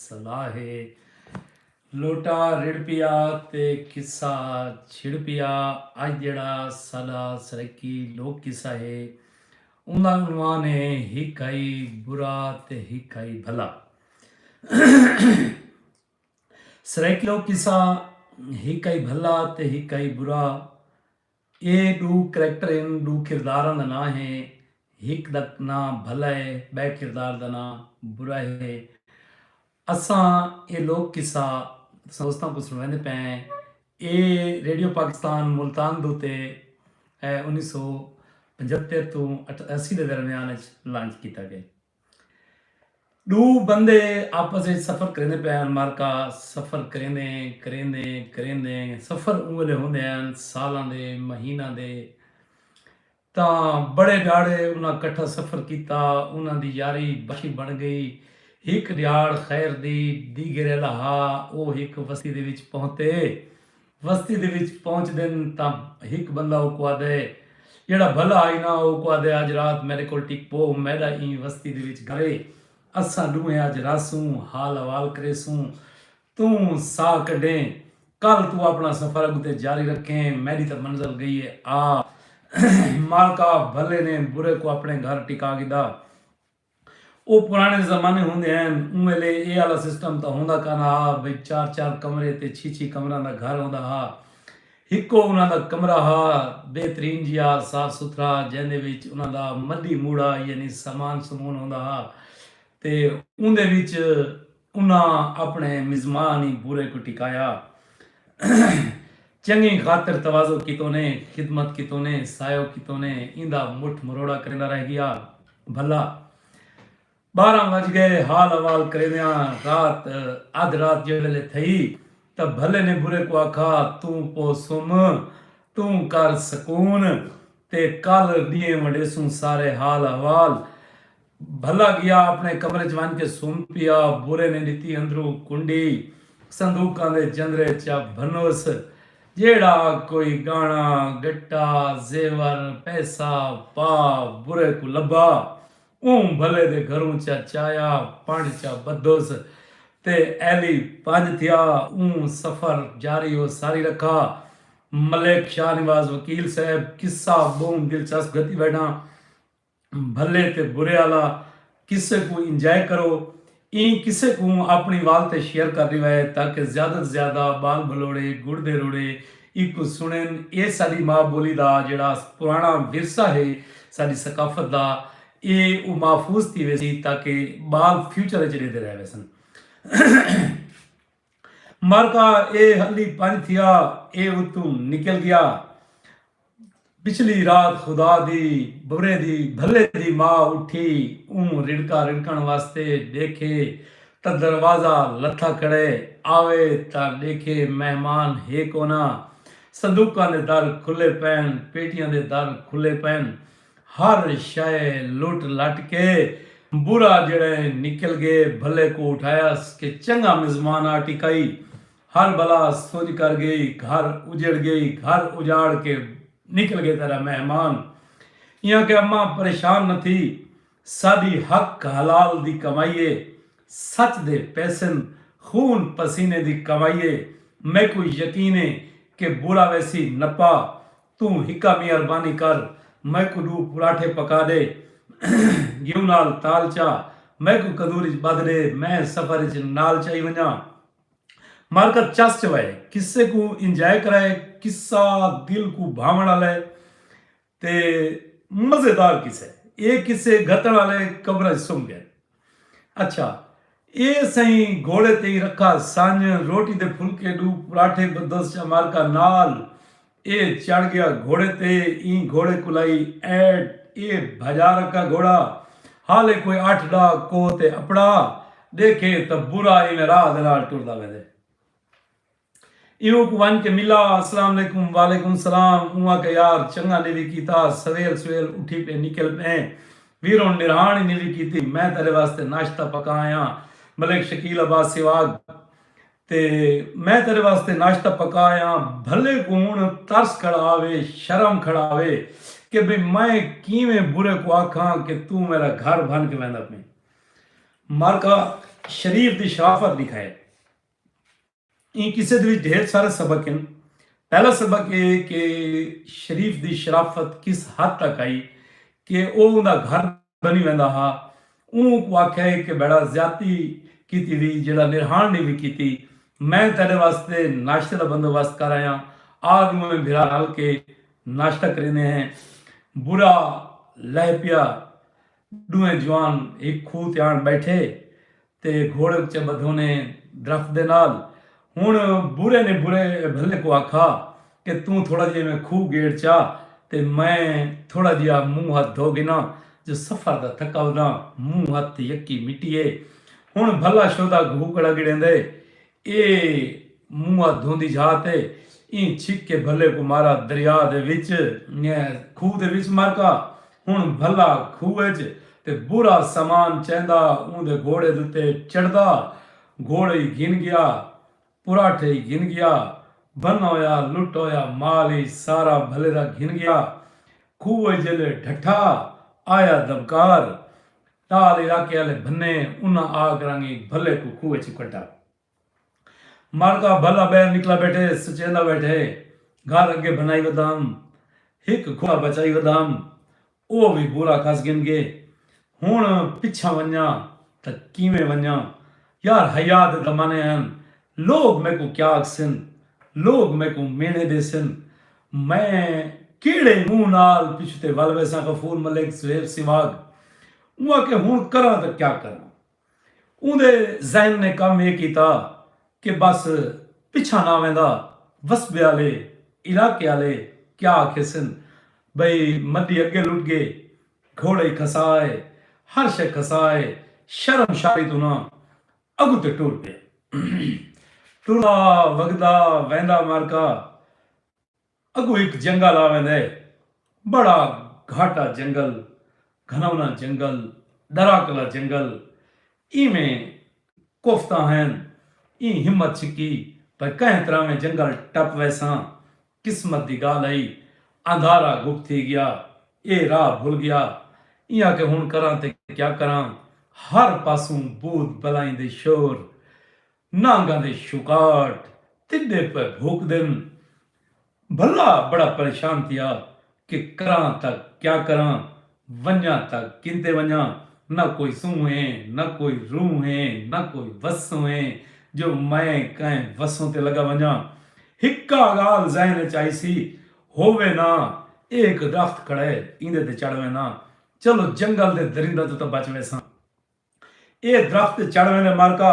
صلاح ہے لوٹا رڑھ پیا تے قصہ چھڑ پیا اج جیڑھا ساڈا سرائیکی لوک قصہ ہے اوندا عنوان ہے ہک ہئی برا تے ہک ہئی بھلا سرائیکی لوک قصہ ہک ہئی بھلا تے ہک ہئی برا اے ڈو کریکٹر ہن، ڈو کرداراں دا ناں ہے، ہک دا ناں بھلا ہے، بئے کردار دا ناں برا ہے۔ اساں اے لوک قصہ تساں دوستاں کوں سنڑویندے پئے ہیں۔ اے ریڈیو پاکستان ملتان دو تے انیس سو پنجھتر توں اٹھاسی دے درمیان اچ لانچ کیتا گئے۔ ݙو بندے آپس اچ سفر کریندے پئے ہن، مارکا، سفر کریندے کریندے کریندے سفر اوں ویلے ہوندے ہن سالاں دے، مہیناں دے تاں بڑے ݙیہاڑے انہاں کٹھا سفر کیتا انہاں دی یاری بخی بݨ ڳئی ہک ݙیہاڑ خیر دی دیگھیرے لہا او ہک وستی دے وچ پہتے۔ وستی دے وچ پہنچدن تاں ہک بندہ اوکوں آہدے جیہڑا بھلا ہئی نا اوکوں آہدے اج رات میڈے کول ٹک پو میڈا ایں وستی دے وچ گھرے اساں ڈوہیں اج رہسوں حال احوال کریسوں توں ساہ کڈھیں کل توں اپنا سفر اگتے جاری رکھیں میڈی تاں منزل گئی اے آ مالکا بھلے نے برے کوں اپنے گھر ٹکا گھدا۔ او پراݨے زمانے ہوندے ہن اوں ویلے اے آلا سسٹم تاں ہوندا کانا ہا بھئی چار چار کمرے تے چھی چھی کمراں دا گھر ہوندا ہا ہکو انہاں دا کمرہ ہا بہترین جیا صاف ستھرا جیندے وچ انہاں دا مڈی موڑا یعنی سامان سمون ہوندا ہا تے اوندے وچ انہاں اپݨے مزمانی بھورے کوں ٹکایا چنگیں خاطر تواضع کیتونے خدمت کیتونے سایو کیتونے ایندا مٹھ مروڑا کریندا رہ گیا بھلا بارہ وج گئے حال احوال کریندیاں رات ادھ رات جے ویلے تھئی تاں بھلے نے بھورے کوں آکھا توں پو سم توں کر سکون تے کل ڈینہہ ونڈیسوں سارے حال احوال بھلا گیا اپنے کمرے چ ونج کے سم پیا بورے نے ڈتی اندرو کنڈی صندوقاں دے جندرے چا بھنوس جیڑا کوئی گانا گٹا زیور پیسہ پا بورے کو لبا اوں بھلے دے گھروں چا چایا پنڈ چا بدھوس تے ایلی پنج تھیا اوں سفر جاری ہو ساری رکھا ملک شاہ نواز وکیل صاحب قصہ بہوں دلچسپ گھتی بیٹھاں۔ بھلے تے برے آلا قصے کوں انجائے کرو۔ ایں قصے کوں اپنڑیں وال تے شیئر کر ڈیوا ہے تاکہ زیادہ توں زیادہ بال بھلوڑے گڑ دے روڑے ایکوں سنڑن۔ اے ساڈی ما بولی دا جیڑھا پرانڑا ورثہ ہے ساڈی ثقافت دا اے او محفوظ تھی ویسی تاکہ بال فیوچر اچ ڈیندے رہ ویسن۔ مرکا اے ہلی پنج تھیا اے اتوں نکل گیا پچھلی رات خدا دی برے دی بھلے دی ماں اٹھی اوں رڑکا رڑکن واسطے ڈیکھے تا دروازہ لتھا کھڑے آوے تا ڈیکھے مہمان ہے کونا صندوقاں دے در کھلے پین پیٹیاں دے در کھلے پین ہر شئے لٹ لٹ کے برا جیڑھے نکل گے بھلے کوں اٹھایس کہ چنگا مزمان آ ٹکائی ہر بلا سجھ کر گئی گھر اجڑ گئی گھر اجاڑ کے نکل گے تیڈا مہمان ایاں کہ اماں پریشان نہ تھی ساڈی حق حلال دی کمائی اے سچ دے پیسن خون پسینے دی کمائی اے میکوں یقین اے کہ برا ویسی نپا توں ہکا میہربانی کر میکوں ڈو پراٹھے پکا ڈے گھیو نال تال چا میکوں کندور اچ بدھ ڈے میں سفر اچ نال چائی ونجاں مارکت چس چوائے قصے کوں انجائے کرائے قصہ دل کوں بھاون آلے تے مزیدار قصہ اے اے قصے گھتن آلے قبراں اچ سم گئن۔ اچھا اے سئیں گھوڑے تئیں رکھا سنج روٹی دے پھلکے ڈو پراٹھے بدس چا مارکا نال اے چڑھ گیا گھوڑے تے ایں گھوڑے کلائی ایڈ اے بھجا رکھا گھوڑا حالے کوئی اٹھ ڈا کوہ تے اپڑا ڈیکھے تاں برا ایویں راہ دے نال ٹردا ویندے۔ ایہو کوں ونج کے ملا۔ اسلام علیکم وعلیکم السلام اوں آکھیا یار چنگا نیوی کیتا سویل سویل اٹھی پئے نکل پئے ویر ہن نرہاݨ ہی نیوی کیتی میں تیڈے واسطے ناشتہ پکا آیاں ملک شکیل عباس سیواگ تے میں تیڈے واسطے ناشتہ پکا آیاں بھلے کوں ہن ترس کھڑا آوے شرم کھڑا آوے کے بھئی میں کیویں برے کوں آکھاں کے توں میڈا گھر بھن کے ویندا پئیں مارکا شریف دی شرافت ڈکھائے ایں قصے دے وچ ڈھیر سارے سبق ہن۔ پہلا سبق ایہ ہے کہ شریف دی شرافت کس حد تک ہئی کہ او اوندا گھر بنی ویندا ہا۔ اوں اونکوں آکھیا ہے کہ بھیڑا زیادتی کیتی وی جیڑھا نرہاݨ نی وی کیتی۔ میں تیڈے واسطے ناشتے دا بندوبست کر آیاں۔ آ ڈوہیں بھرا رل کے ناشتہ کریندے ہیں۔ برا لہہ پیا۔ ڈوہیں جوان ہک کھوہ تے آن بیٹھے۔ تے گھوڑے اچے بدھونے درخت دے نال۔ ہن برے نے برے بھلے کو آکھا کہ توں تھوڑا جیا ایویں کھو گیڑ چا تے میں تھوڑا جیا منہ ہتھ دھو گھناں جو سفر دا تھکا وداں منہ ہتھ تے یکی مٹی اے۔ ہن بھلا شودا گھو کڑا گڑیندے۔ اے موہا دھوندی جھا تے ایں چھک کے بھلے کوں مارا دریا دے وچ۔ کھوہ دے وچ مر کا ہن بھلا کھوہ اچ تے برا سامان چیندا اوندے گھوڑے دے اتے چڑھدا گھوڑے ای گھن گیا پراٹھے ای گھن گیا بھنا ہویا لٹا ہویا مال ای سارا بھلے دا گھن گیا کھوہ اچ جیلے ڈھٹھا آیا دبکار ٹال علاقے آلے بھنے انہاں آ کرانگی بھلے کوں کھوہ اچوں کڈھا۔ ماڑکا بھلا بہر نکلا بیٹھے سچیندا بیٹھے گھر اگے بھنائی ودام ہک گھوڑا بچائی ودام او وی بورا کھس گھن گئے ہن پچھاں ونجاں تاں کیویں ونجاں یار حیاء دے زمانے ہن لوگ میکوں کیا آکھسن؟ لوگ میکوں میݨے ݙیسن؟ میں کیہڑے منہ نال پچھوں تے ول ویساں غفور ملک زویف سیواگ اوں آکھیا ہݨ کراں تاں کیا کراں؟ اوندے ذہن نے کم اے کیتا کہ بس پچھاں نہ ویندا وسبے آلے علاقے آلے کیا آکھیسن بھئی مڈی اگے لٹ گے گھوڑے کھسا اے ہر شے کھسا اے شرم شاری توں نہ اڳوں تے ٹر پیا۔ ٹردا وگدا ویندا معرکہ اڳوں ہک جنگل آ ویندے۔ بڑا گھاٹا جنگل، گھنونا جنگل، ݙراکلا جنگل۔ ایویں کوفتا ہین، ایں ہمت چھکی بھئی کہیں طرح میں جنگل ٹپ ویساں۔ قسمت دی گالھ ہئی اندھارا گپ تھی گیا اے راہ بھل گیا ایاں کہ ہن کراں تے کیا کراں ہر پاسوں بھوت بلائیں دے شور نانگاں دے شکاٹ تڈے پئے بھوکدن بھلا بڑا پریشان تھیا کہ کراں تاں کیا کراں، ونڄاں تاں کینتے ونڄاں، نہ کوئی سونہہ اے، نہ کوئی روح اے، نہ کوئی وسوں اے جو میں کہیں وسوں تے لڳا ونڄاں۔ ہکا ڳالھ ذہن اچ آئیسی، ہو وینداں، اے ہک درخت کھڑا اے، ایندے تے چڑھ وینداں، چلو جنگل دے درنداں توں تاں بچ ویساں۔ ایہ درخت تے چڑھ ویندے مرکا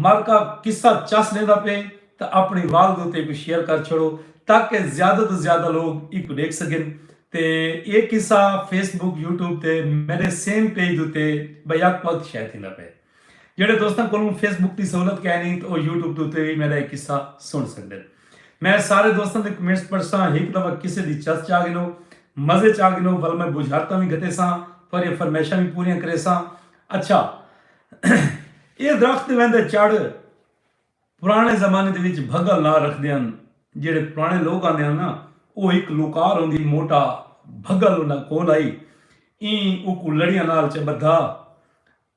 مرکا قصہ چس ڈیندا پئے تاں اپݨی والد اتے ایکوں شیئر کر چھوڑو تاکہ زیادہ توں زیادہ لوگ ایکوں ڈیکھ سگن تے ایہ قصہ فیس بک یوٹیوب تے میڈے سیم پیج اتے بیک وقت شیئر تھیندا پئے جیڑھے دوستاں کولوں فیس بک دی سہولت کائنی تاں او یوٹیوب تے اتے وی میڈا ایہ قصہ سن سگدن میں سارے دوستاں دے کمنٹس پڑھساں ہک دفعہ قصے دی چس چاہ گھنو مزے چا گھنو ول میں بجھارتاں وی گھٹیساں تہاڈیاں فرمائشاں وی پوریاں کریساں اچھا ایہ درخت تے ویندے چڑھ پرانے زمانے دے وچ بھگل نال رکھدے ہن جیڑھے پرانے لوک آندے ہن نا او ہک لوکار ہوندی موٹا بھگل انہاں کول ہئی ایں اوکوں لڑیاں نال چ بدھا۔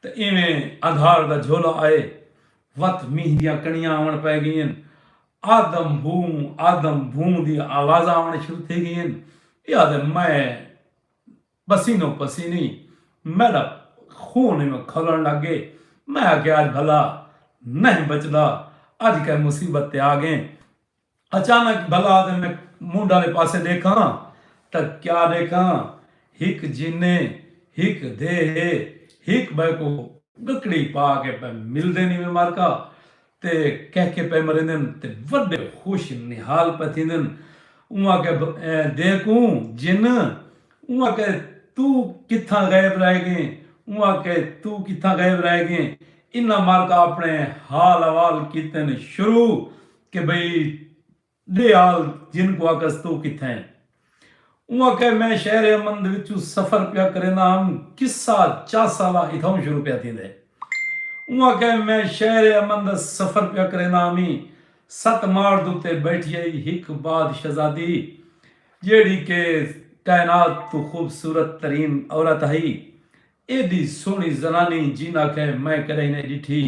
تے ایویں اگھاڑ دا جھولا آئے وت مینہہ دیاں کݨیاں آوݨ پئے ڳئین۔ آدم بھوں آدم بھوں دیاں آوازاں آوݨ شروع تھی ڳئین۔ ٻیا تے میں پسینو پسینی میݙا خون ایویں کھولݨ لڳ ڳئے۔ میں آکھیا اڄ بھلا نئیں بچدا اڄ کئیں مصیبت تے آ ڳئین۔ اچانک بھلا تے میں منڈھ آلے پاسے ڈیکھاں تاں کیا ڈیکھاں ہک جینے ہک دھے ہے ہک بئے کوں گکڑی پا کے پئے ملدے نیویں مارکا تے کہہ کے پئے مریندن تے وڈے خوش نہال پئے تھیندن اوں آکھے دھے کوں جن اوں آکھے توں کتھاں غائب رہ گئیں اوں آکھے توں کتھاں غائب رہ گئیں انہاں مارکا اپنے حال احوال کیتن شروع کہ بھئی ڈے آل جن کوں آکھس تو کتھاں ہیں؟ اوں آکھیا میں شہر امن دے وچوں سفر پیا کریندا ہم قصہ چاسالا اتھاؤں شروع پیا تھیندا ہے۔ اوں آکھیا میں شہر امن دا سفر پیا کریندا ہم ایں ست ماڑ دے اتے بیٹھی ہئی ہک باد شہزادی جیڑھی کہ کائنات توں خوبصورت ترین عورت ہئی ایڈی سوہݨی زنانی جیناکہ میں کݙاہیں نئیں ݙٹھی۔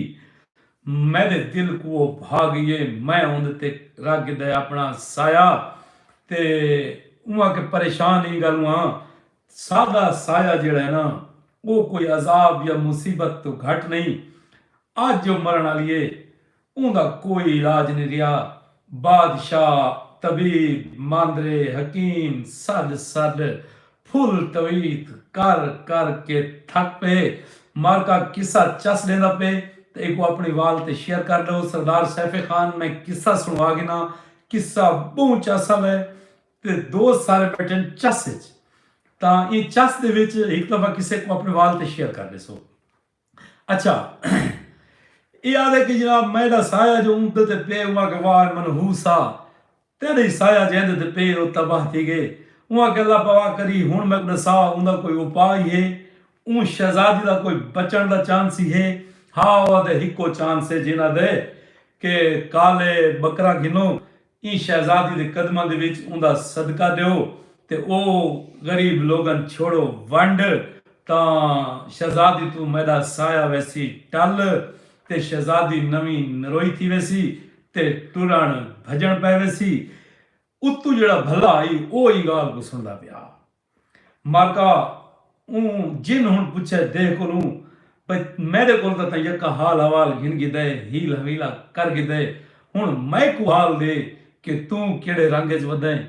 میݙے دل کوں او بھا ڳئی اے۔ میں اوندے تے رکھ گھدا اے اپݨا سایہ تے اونہاں کہ پریشان ایں ڳالھوں ہاں۔ ساݙا سایہ جیڑھا اے ناں او کوئی عذاب یا مصیبت توں گھٹ نئیں۔ اڄ او مرݨ آلی اے۔ اوندا کوئی علاج نی رہیا۔ بادشاہ، طبیب، ماندرے، حکیم سڈ سڈ پھل تویت کر کر کے تھک پئے۔ مارکا قصہ چس ڈیندا پئے تاں ایکوں اپنڑی وال تے شیئر کر ڈو۔ سردار سیف خان میں قصہ سنڑوا گھنا۔ قصہ بہوں چس آلا ہے تے دوست سارے بیٹھے ہن چس اچ تاں ایں چس دے وچ ہک دفعہ قصے کوں اپنڑے وال تے شیئر کر ڈیسو۔ اچھا ایہ آدھے کہ جناب میڈا سایہ جو اوندے تے پئے اوں آکھے واہ اے منحوس آ تیڈی سایہ جے ایندے تے پئے او تباہ تھی گئے اوں آکھے اللہ پوا کری ہن میکوں ڈسا اوندا کوئی اوپا ای ہے اوں شہزادی دا کوئی بچن دا چانس ای ہے ہا او آدھے ہکو چانس ہے جینا دے کہ کالے بکرا گھنو ایں شہزادی دے قدماں دے وچ اوندا صدقہ ݙیو تے او غریب لوگن چھوڑو ونڈ تاں شہزادی توں میݙا سایہ ویسی ٹل تے شہزادی نویں نروئی تھی ویسی تے ٹرݨ بھڄݨ پئے ویسی۔ اتو جیڑھا بھلا ہئی او ایں ڳالھ کوں سݨدا پیا ماکا اوں جن ہن پچھے دے کولوں بھئی میڈے کول تاں تاں یکا حال حوال گھن گھدا ہے ہیل حویلا کر گھدا ہے ہن میکوں حال دے کہ توں کیڑھے رنگ اچ ودا ہیں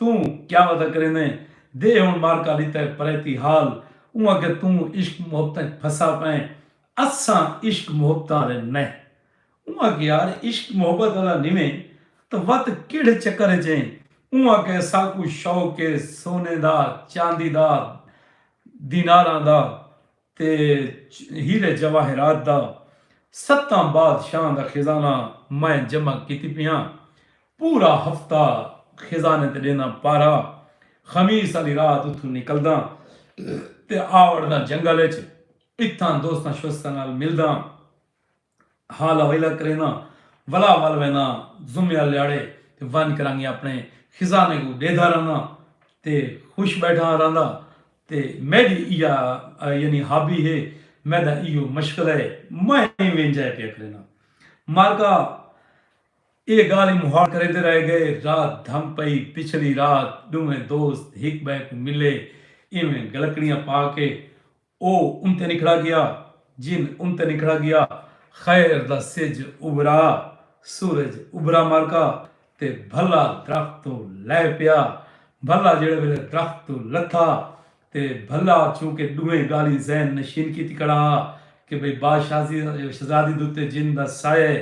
توں کیا ودا کریندا ہیں دے ہن مارکا لیتا ہے پریتی حال اوں آکھیا توں عشق محبتاں اچ پھسا پئیں اساں عشق محبتاں آلے نئیں اوں آکھیا یار عشق محبت آلا نویں تاں وت کیڑھے چکر اچ ایں اوں آکھیا ساکوں شوق اے سونے دا چاندی دا دیناراں دا تے ہیرے جواہرات دا ستاں بادشاہاں دا خزانہ میں جمع کیتی پیاں پورا ہفتہ خزانے تے ڈینداں پارا خمیس آلی رات اتھوں نکلداں تے آوڑداں جنگل اچ اتھاں دوستاں شوستاں نال ملداں۔ حال حویلہ کرینداں ولا ول وینداں جمعہ لیاڑے تے ونج کرانگی اپنے خزانے کوں ڈیدھا رہنداں تے خوش بیٹھاں رہنداں تے میڈی ایہا یعنی ہابی ہے میڈا ایہو مشغلہ ہے میں ایویں انجائے پیا کرینداں مارکا ایہ گالھ ای مہاڑ کریندے رہ گئے رات دھم پئی پچھلی رات ڈوہیں دوست ہک بئے کوں ملے ایویں گلکڑیاں پا کے او انتے نکھڑا گیا، جن انتے نکھڑا گیا، خیر دا سجھ ابھرا، سورج ابھرا مارکا تے بھلا درخت توں لہہ پیا، بھلا جیڑھے ویلے درخت توں لتھا تے بھلا چونکہ ڈوہیں گالھیں ذہن نشین کیتی کھڑا ہا کہ بھئی بادشاہزی شہزادی دے اتے جن دا سایہ ہے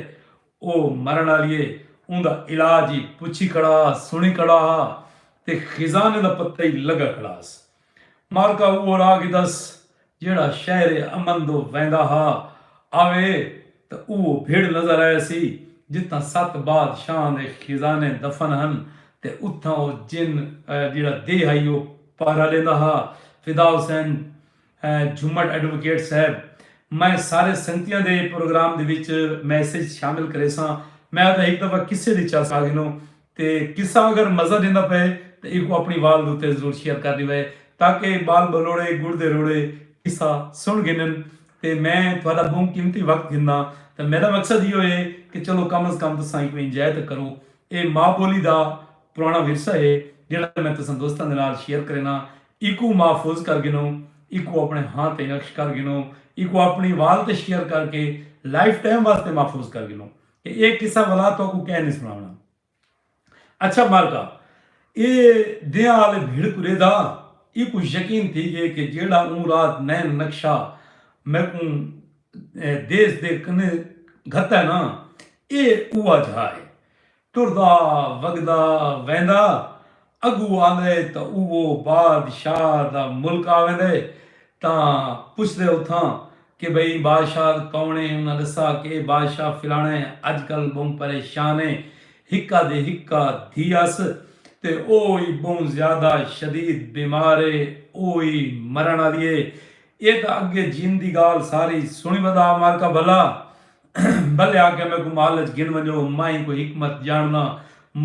او مرن آلی ہے اوندا علاج ای پچھی کھڑا ہا سنڑی کھڑا ہا تے خزانے دا پتہ ای لگا کھڑا ہس۔ معرکہ اوہو راہ گھدس جیہڑا شہر امن دو ویندا ہا۔ آوے تاں اوہو بھڑ نظر آیسی جتھاں ست باد شاہاں دے خزانے دفن ہن تے اتھاں او جن جیہڑا دے ہئی او پہرہ ڈیندا ہا۔ فدا حسین جھمٹ ایڈووکیٹ صاحب میں سارے سنگتیاں دے پروگرام دے وچ میسج شامل کریساں۔ میں آتا ہک دفعہ قصے دی چس آگھنوں تے قصہ اگر مزہ ڈیندا پئے تاں ایکوں اپنڑی وال دے اتے ضرور شیئر کر ڈیوے تاکہ بال بلوڑے گڑ دے روڑے قصہ سنڑ گھنن تے میں تہاڈا بہوں قیمتی وقت گھنداں تاں میڈا مقصد ایہو ہے کہ چلو کم از کم تساں ایکوں انجوائے تاں کرو اے ماء بولی دا پرانڑا ورثہ ہے جیہڑا میں تساں دوستاں دے نال شیئر کرینداں ایکوں محفوظ کر گھنو ایکوں اپنڑے ہاں تے نقش کر گھنو ایکوں اپنڑی وال تے شیئر کر کے لائف ٹائم واسطے محفوظ کر گھنو۔ اے ایک قصہ ولا توکوں کہہ نی سناونا۔ اچھا مالکا! اے دیاں آلے بھیڑ کریدا ایکوں یقین تھی گئے کہ جیڑھا اوں رات نین نقشہ میکوں دیس دے کنے گھتا ہے نا اے اوہا جھا ہے۔ ٹردا وگدا ویندا اگو آندے تاں اوہ بادشاہ دا ملک آویندے تاں پچھدے اتھاں کہ بھئی ایں بادشاہ کوݨ ہے انہاں ݙسا کہ اے بادشاہ فلاݨا ہے اڄ کل ٻہوں پریشان ہے ہکا دی ہکا دھی ہس تے او ای ٻہوں زیادہ شدید بیمار ہے او ای مرݨ آلی ہے اے تاں اگے جیندی ڳالھ ساری سݨی ودا مالکا بھلا بلے آکھیا میکوں محل اچ گھن ونجو میں کوئی حکمت جانڑداں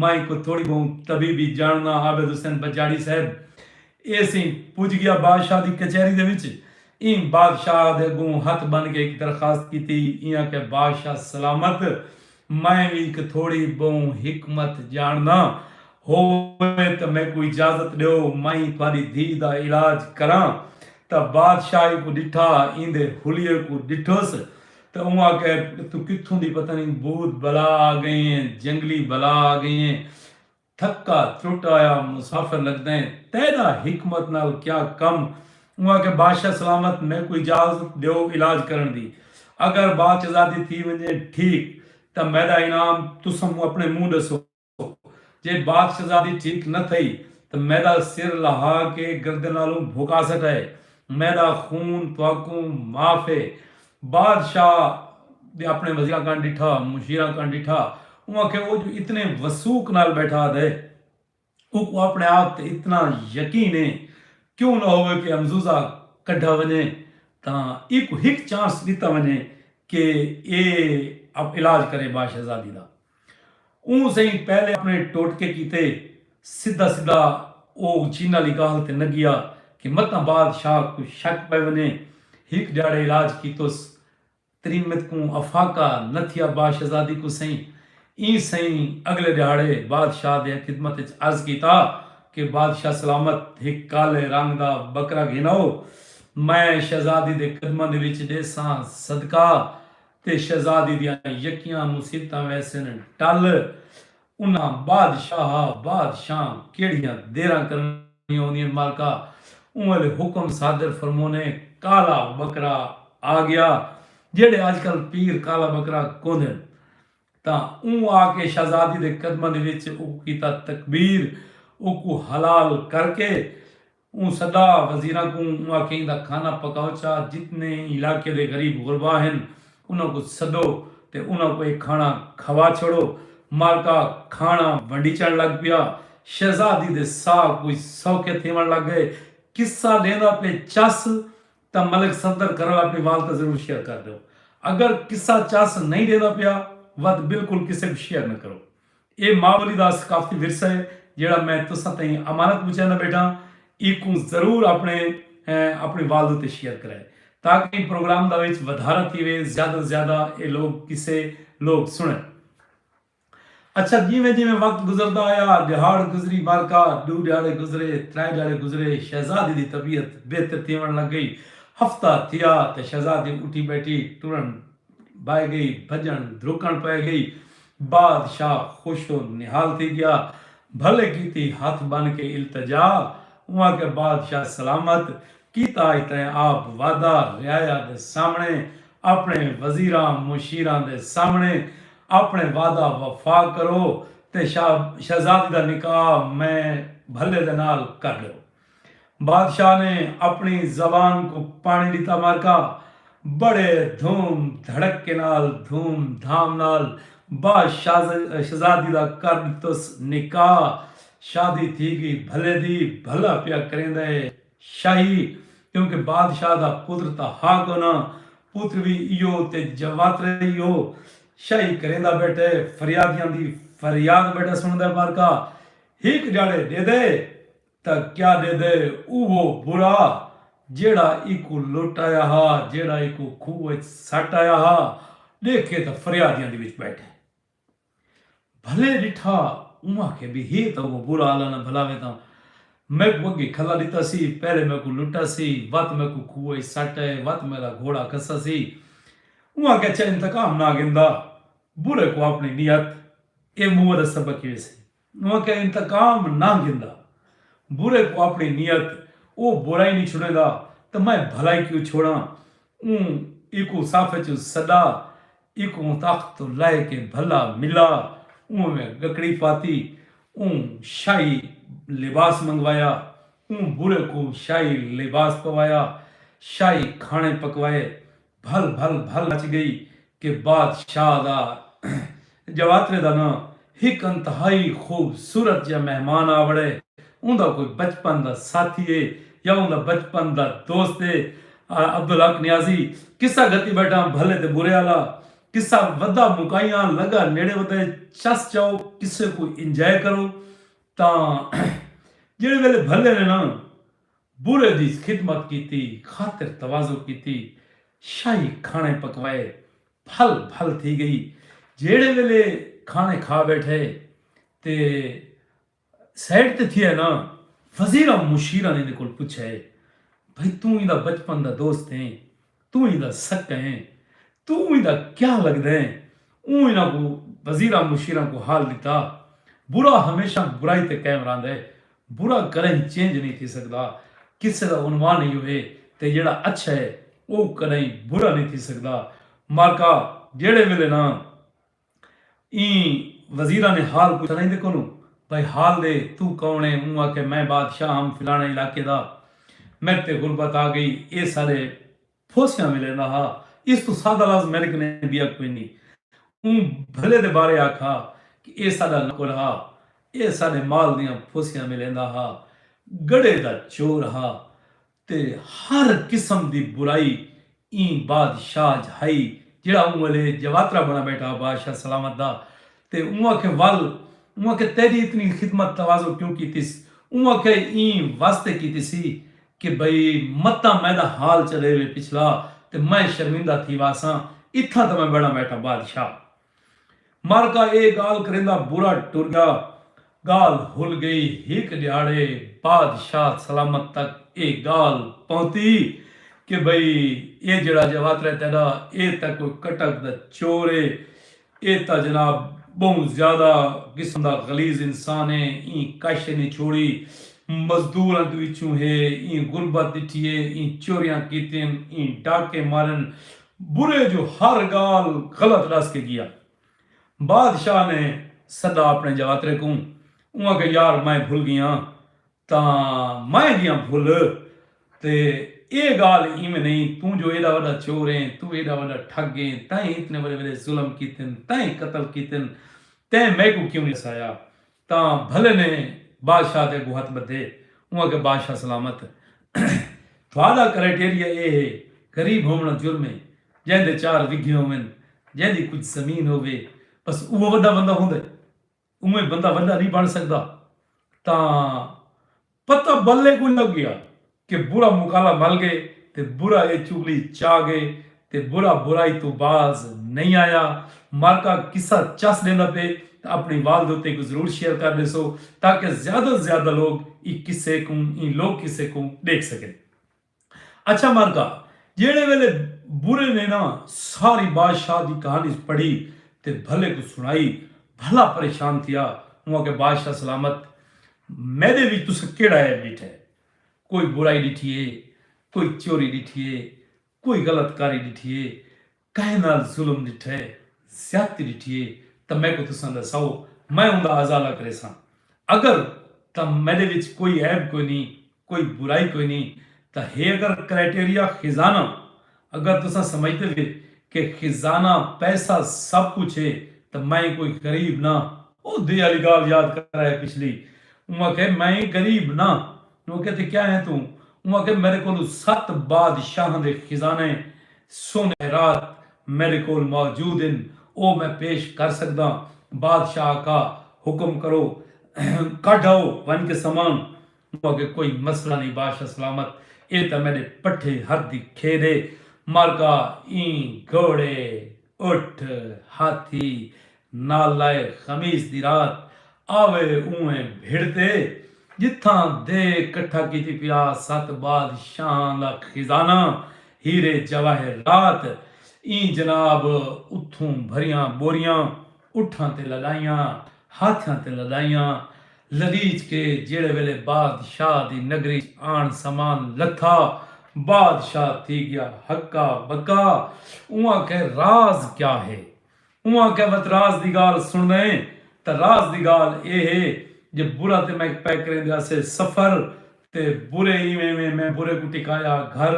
میں کوئی تھوڑی بہوں طبیبی جانڑداں عابد حسین بجاڑی صاحب ایسیں پج گیا بادشاہ دی کچہری دے وچ ایں بادشاہ دے اگوں ہتھ بن کے ہک درخواست کیتی ایں آکھیا بادشاہ سلامت میں وی ہک تھوڑی بہوں حکمت جانڑداں ہووے تاں میکوں اجازت ڈیو میں تھوڑی دھی دا علاج کراں تاں بادشاہ ایکوں ڈٹھا ایندے حلیے کوں ڈٹھس تاں اوں آکھیا اتھوں کتھوں دی پتہ نئیں بھوت بلا آ گئیں اے جنگلی بلا آ گئیں اے تھکا ترٹ آیا مسافر لگداں اے تیڈا حکمت نال کیا کم اوں آکھیا بادشاہ سلامت میکوں اجازت ڈیو علاج کرن دی اگر باچ ازادی تھی ونجے ٹھیک تاں میڈا انعام تساں موں اپنے موں ڈسو۔ جے بات شہزادی ٹھیک نہ تھئی تاں میݙا سر لہا کے گردن آلوں بھکا سٹائے۔ میݙا خون تہاکوں معاف ہے۔ باد شاہ دے اپݨے وزیراں کن ݙٹھا، مشیراں کن ݙٹھا۔ اوں آکھیا او جو اتنے وثوق نال بیٹھا دے اونکوں اپݨے آپ تے اتنا یقین ہے کیوں نہ ہووے کے امزوزہ کڈھا ونڄے تاں ایکوں ہک چانس ݙتا ونڄے کے اے علاج کرے باد شہزادی دا۔ اوں سئیں پہلے اپنے ٹوٹکے کیتے سدھا سدھا او اچھینا آلی گالھ تے نگیا کہ متاں باد شاہ کوں شک پئے ونجے۔ ہک ڈیہاڑے علاج کیتوس تریمت کوں افاقہ نہ تھیا با شہزادی کوں سئیں ایں سئیں اگلے ڈیہاڑے باد شاہ دے خدمت اچ عرض کیتا کہ باد شاہ سلامت ہک کالے رنگ دا بکرا گھن آؤ میں شہزادی دے قدماں دے وچ ڈیساں صدقہ تے شہزادی دیاں یکیاں مصیبتاں ویسن ٹل انہاں بادشاہ بادشاہ کیڑھیاں دیراں کرنڑیاں ہوندین مالکا اوں ویلے حکم صادر فرمونے کالا بکرا آگیا جیڑھے اج کل پیر کالا بکرا کوندن تاں اوں آکے شہزادی دے قدماں دے وچ اوکوں کیتا تکبیر اوکوں حلال کرکے اوں سدا وزیراں کوں اوں آکھیا ایندا کھانا پکاؤ چا جتنے علاقے دے غریب غربا ہن انہاں کوں سدو تے انہاں کوں اے کھانا کھوا چھوڑو مالکا کھانا ونڈیچن لگ پیا شہزادی دے ساہ کوئی سوکھے تھیون لگ گئے قصہ ڈیندا پے چس تاں ملک صفدر کرو اپنی والتہ ضرور شیئر کر ڈیو اگر قصہ چس نہیں ڈیندا پیا وت بالکل کسے کوں شیئر نہ کرو ایہ ماں ٻولی دا ثقافتی ورثہ ہے جیڑھا میں تساں تئیں امانت پچیندا ٻیٹھاں ایکوں ضرور اپݨے اپݨی والد اتے شیئر کرائے تاکہ ایں پروگرام دا وچ ودھارا تھیوے زیادہ توں زیادہ ایہ لوک قصے لوک سݨن۔ اچھا جیویں جیویں وقت گزردا آیا ݙیہاڑ گزری مارکا ݙو ݙیہاڑے گزرے ترائے ݙیہاڑے گزرے شہزادی دی طبیعت بہتر تھیوݨ لڳ ڳئی ہفتہ تھیا تاں شہزادی اٹھی ٻیٹھی ٹرݨ بھائے ڳئی بھڄݨ دھرکݨ پئے ڳئی بادشاہ خوش و نہال تھی ڳیا۔ بھلے کیتی ہتھ ٻن کے التجا اوں آکھیا بادشاہ سلامت کیتا اج تئیں آپ وعدہ رعایا دے سامݨے اپݨے وزیراں مشیراں دے سامݨے اپݨے وعدہ وفا کرو تے شاہ شہزادی دا نکاح میں بھلے دے نال کر ݙیو۔ بادشاہ نے اپݨی زبان کوں پاݨی ݙتا معرکہ بڑے دھوم دھڑکے نال دھوم دھام نال با شہزادی دا کر ݙتس نکاح شادی تھی ڳئی بھلے دی بھلا پیا کریندا ہے شاہی کیونکہ بادشاہ دا پتر تاں ہا کونا پتر وی ایہو تے جواترے ایہو شاہی کریندا ٻیٹھے فریادیاں دی فریاد ٻیٹھا سݨدا ہے معرکہ ہک جاڑے ݙیدے تاں کیا ݙیدے اوہو برا جیڑھا ایکوں لٹ آیا ہا، جیڑھا ایکوں کھوہ اچ سٹ آیا ہا، ݙیکھے تاں فریادیاں دی وچ ٻیٹھے۔ بھلے ݙٹھا اوہاں کے بی ہے تاں اوہو برا اللہ نہ بھلاوے تاں میکوں اڳے کھلا ݙتا سی، پہلے میکوں لٹا سی، وت میکوں کھوہ اچ سٹ آئے، وت میݙا گھوڑا کسا سی۔ اوہاں کے اچھا انتقام نہ گھندا، برے کوں اپݨی نیت اے موہ دا سبق ہی ویسی۔ اوں آکھیا انتقام نہ گھندا، برے کوں آپݨی نیت او برائی نی چھوڑیندا تاں میں بھلائی کیوں چھوڑاں اوں ایکوں صف اچوں سݙا ایکوں تخت توں لہہ کے بھلا ملا اوں میں گکڑی پاتی اوں شاہی لباس منگوایا اوں برے کوں شاہی لباس پوایا شاہی کھاݨے پکوائے بھل بھل بھل مچ گئی کہ بادشاہ دا جواترے دا ناں ہک انتہائی خوبصورت جیہا مہمان آ وڑے اوندا کوئی بچپن دا ساتھی ہے یا اوندا بچپن دا دوست ہے عبدالحق نیازی قصہ گھتی بیٹھاں بھلے تے برے آلا قصہ ودھا مکائیاں لگا نیڑے ودھے چس چاؤ قصے کوں انجوائے کرو تاں جیہڑے ویلے بھلے نے ناں۔ برج اچ خدمت کیتی، خاطر تواضع کیتی، شاہی کھاݨے پکوائے، پھل پھل تھی ڳئی، جیڑھے ویلے کھاݨے کھا ٻیٹھے تے سائیڈ تے تھیا نا، وزیراں مشیراں ایندے کول پچھیا، بھئی توں ایندا بچپن دا دوست ہیں، توں ایندا سکہ ہیں، توں ایندا کیا لگدے ہیں۔ اوں انہاں کوں، وزیراں مشیراں کوں حال ݙتا، برا ہمیشہ برائی تے قائم رہندا ہے، برا کݙاہیں چینج نئیں تھی سڳدا، قصے دا عنوان ایہو ہے تے جیڑھا اچھا ہے او کݙاہیں برا نئیں تھی سڳدا، مارکا جیڑھے ویلے نہ۔ ایں وزیراں نے حال پچھا لہیندے کونوں بھائی حال دے توں کون ایں اوں آکھے میں بادشاہ ہم فلانے علاقے دا میڈ تے غربت آ گئی اے سارے پھوسیاں ملیندا ہا اس توں سادہ لفظ میڈ کنے بیا کوئی نی اوں بھلے دے بارے آکھا کہ اے ساڈا نوکر ہا اے ساڈے مال دیاں پھوسیاں ملیندا ہا گڑھے دا چور ہا۔ تے ہر قسم دی برائی ایں بادشاہ اچ ہئی جیہڑا اوں ویلے جواترا بݨا ٻیٹھا ہا بادشاہ سلامت دا تے اوں آکھے ول اوں آکھے تیݙی اتنی خدمت تواضع کیوں کیتیس اوں آکھے ایں واسطے کیتیسی کہ بھئی متاں میݙا حال چݙے وے پچھلا تے میں شرمندہ تھی واساں اتھاں تاں میں بݨا ٻیٹھا بادشاہ مر کا ایہ گالھ کریندا برا ٹریا گالھ ہل گئی ہک ڈیہاڑے بادشاہ سلامت تک ایہ گالھ پہنتی کہ بھئی ایہ جیڑھا جواترے تیڈا ایہ تاں کوئی کٹک دا چور ہے ایہ تاں جناب بہوں زیادہ قسم دا غلیظ انسان ہے ایں کش نی چھوڑی مزدوراں دے وچوں ہے ایں غربت ڈٹھی ہے ایں چوریاں کیتین ایں ڈاکے مارن برے جو ہر گالھ غلط ڈس کے گیا۔ بادشاہ نے سدا اپنے جواترے کوں۔ اوں آکھیا یار میں بھل گیاں تاں میں گیاں بھل تے اے گالھ ایویں نہیں توں جو ایڈا وڈا چور ایں توں ایڈا وڈا ٹھگ ایں تیں اتنے وڈے وڈے ظلم کیتن تیں قتل کیتن تیں میکوں کیوں نہیں ڈسایا تاں بھلے نے بادشاہ تے اگوں ہتھ بدھے۔ اوں آکھیا بادشاہ سلامت تہاڈا کرائٹیریا ایہ ہے غریب ہوونڑاں جرم ہے جیندے چار وگھے ہوون جیندی کجھ زمین ہووے بس اوہ وڈا بندہ ہوندے اونویں بندہ وڈا نی بنڑ سگدا تاں پتہ بلے کوں لگ گیا کہ برا مکالا مل گئے تے برا اے چغلی چا گئے تے برا برائی توں باز نئیں آیا۔ مارکا قصہ چس ڈیندا پئے تاں اپنی والد اتے کوں ضرور شیئر کر ڈیسو تاکہ زیادہ توں زیادہ لوگ ایں قصے کوں ایں لوک قصے کوں ڈیکھ سکن۔ اچھا مرغا جیہڑے ویلے برے نے ناں ساری بادشاہ دی کہانی پڑھی تے بھلے کوں سنڑائی بھلا پریشان تھیا اوں آکھیا بادشاہ سلامت میڈے وچ تساں کیہڑا عیب ڈٹھے کوئی برائی ڈٹھی ہے کوئی چوری ڈٹھی ہے کوئی غلط کاری ڈٹھی ہے کہیں نال ظلم ݙٹھئے، زیادتی ݙٹھی ہے تاں میکوں تساں ݙساؤ، میں اوندا ازالہ کریساں۔ اگر تاں میݙے وچ کوئی عیب کوئی نھیں، کوئی برائی کوئی نھیں تاں ہے اگر کرائٹیریا خزانہ، اگر تساں سمجھدے وے کہ خزانہ، پیسہ سب کجھ ہے تاں میں کوئی غریب نہ، اوندے آلی ڳالھ یاد کرائے پچھلی، اوں آکھئے میں غریب نہ، انہوں آکھیا تے کیا ہیں توں؟ اوں آکھیا میڈے کولوں ست بادشاہاں دے خزانے سونے رات میڈے کول موجود ہن او میں پیش کر سگداں بادشاہ آکھا حکم کرو کڈھ آؤ ونج کے سامان اوں آکھیا کوئی مسئلہ نئیں بادشاہ سلامت اے تاں میڈے پٹھے ہتھ دی کھیڈ اے مالکا ایں گھوڑے اٹھ، ہاتھی، نالائے خمیس دی رات آوے اونویں بھڑدے جتھاں دے کٹھا کیتی پیا ست بادشاہاں دا خزانہ ہیرے جواہرات ایں جناب اتھوں بھریاں بوریاں اٹھاں تے لڑائیاں، ہاتھیاں تے لڑائیاں لڑیچ کے جیڑھے ویلے بادشاہ دی نگری اچ آن سامان لتھا، بادشاہ تھی گیا ہکا بکا۔ اوں آکھے راز کیا ہے؟ اوں آکھیا وت راز دی گالھ سنڑدئیں تاں راز دی گالھ اے ہے جے برا تے میک پے کریندے آسے سفر تے برے ایویں ویں میں برے کوں ٹکایا گھر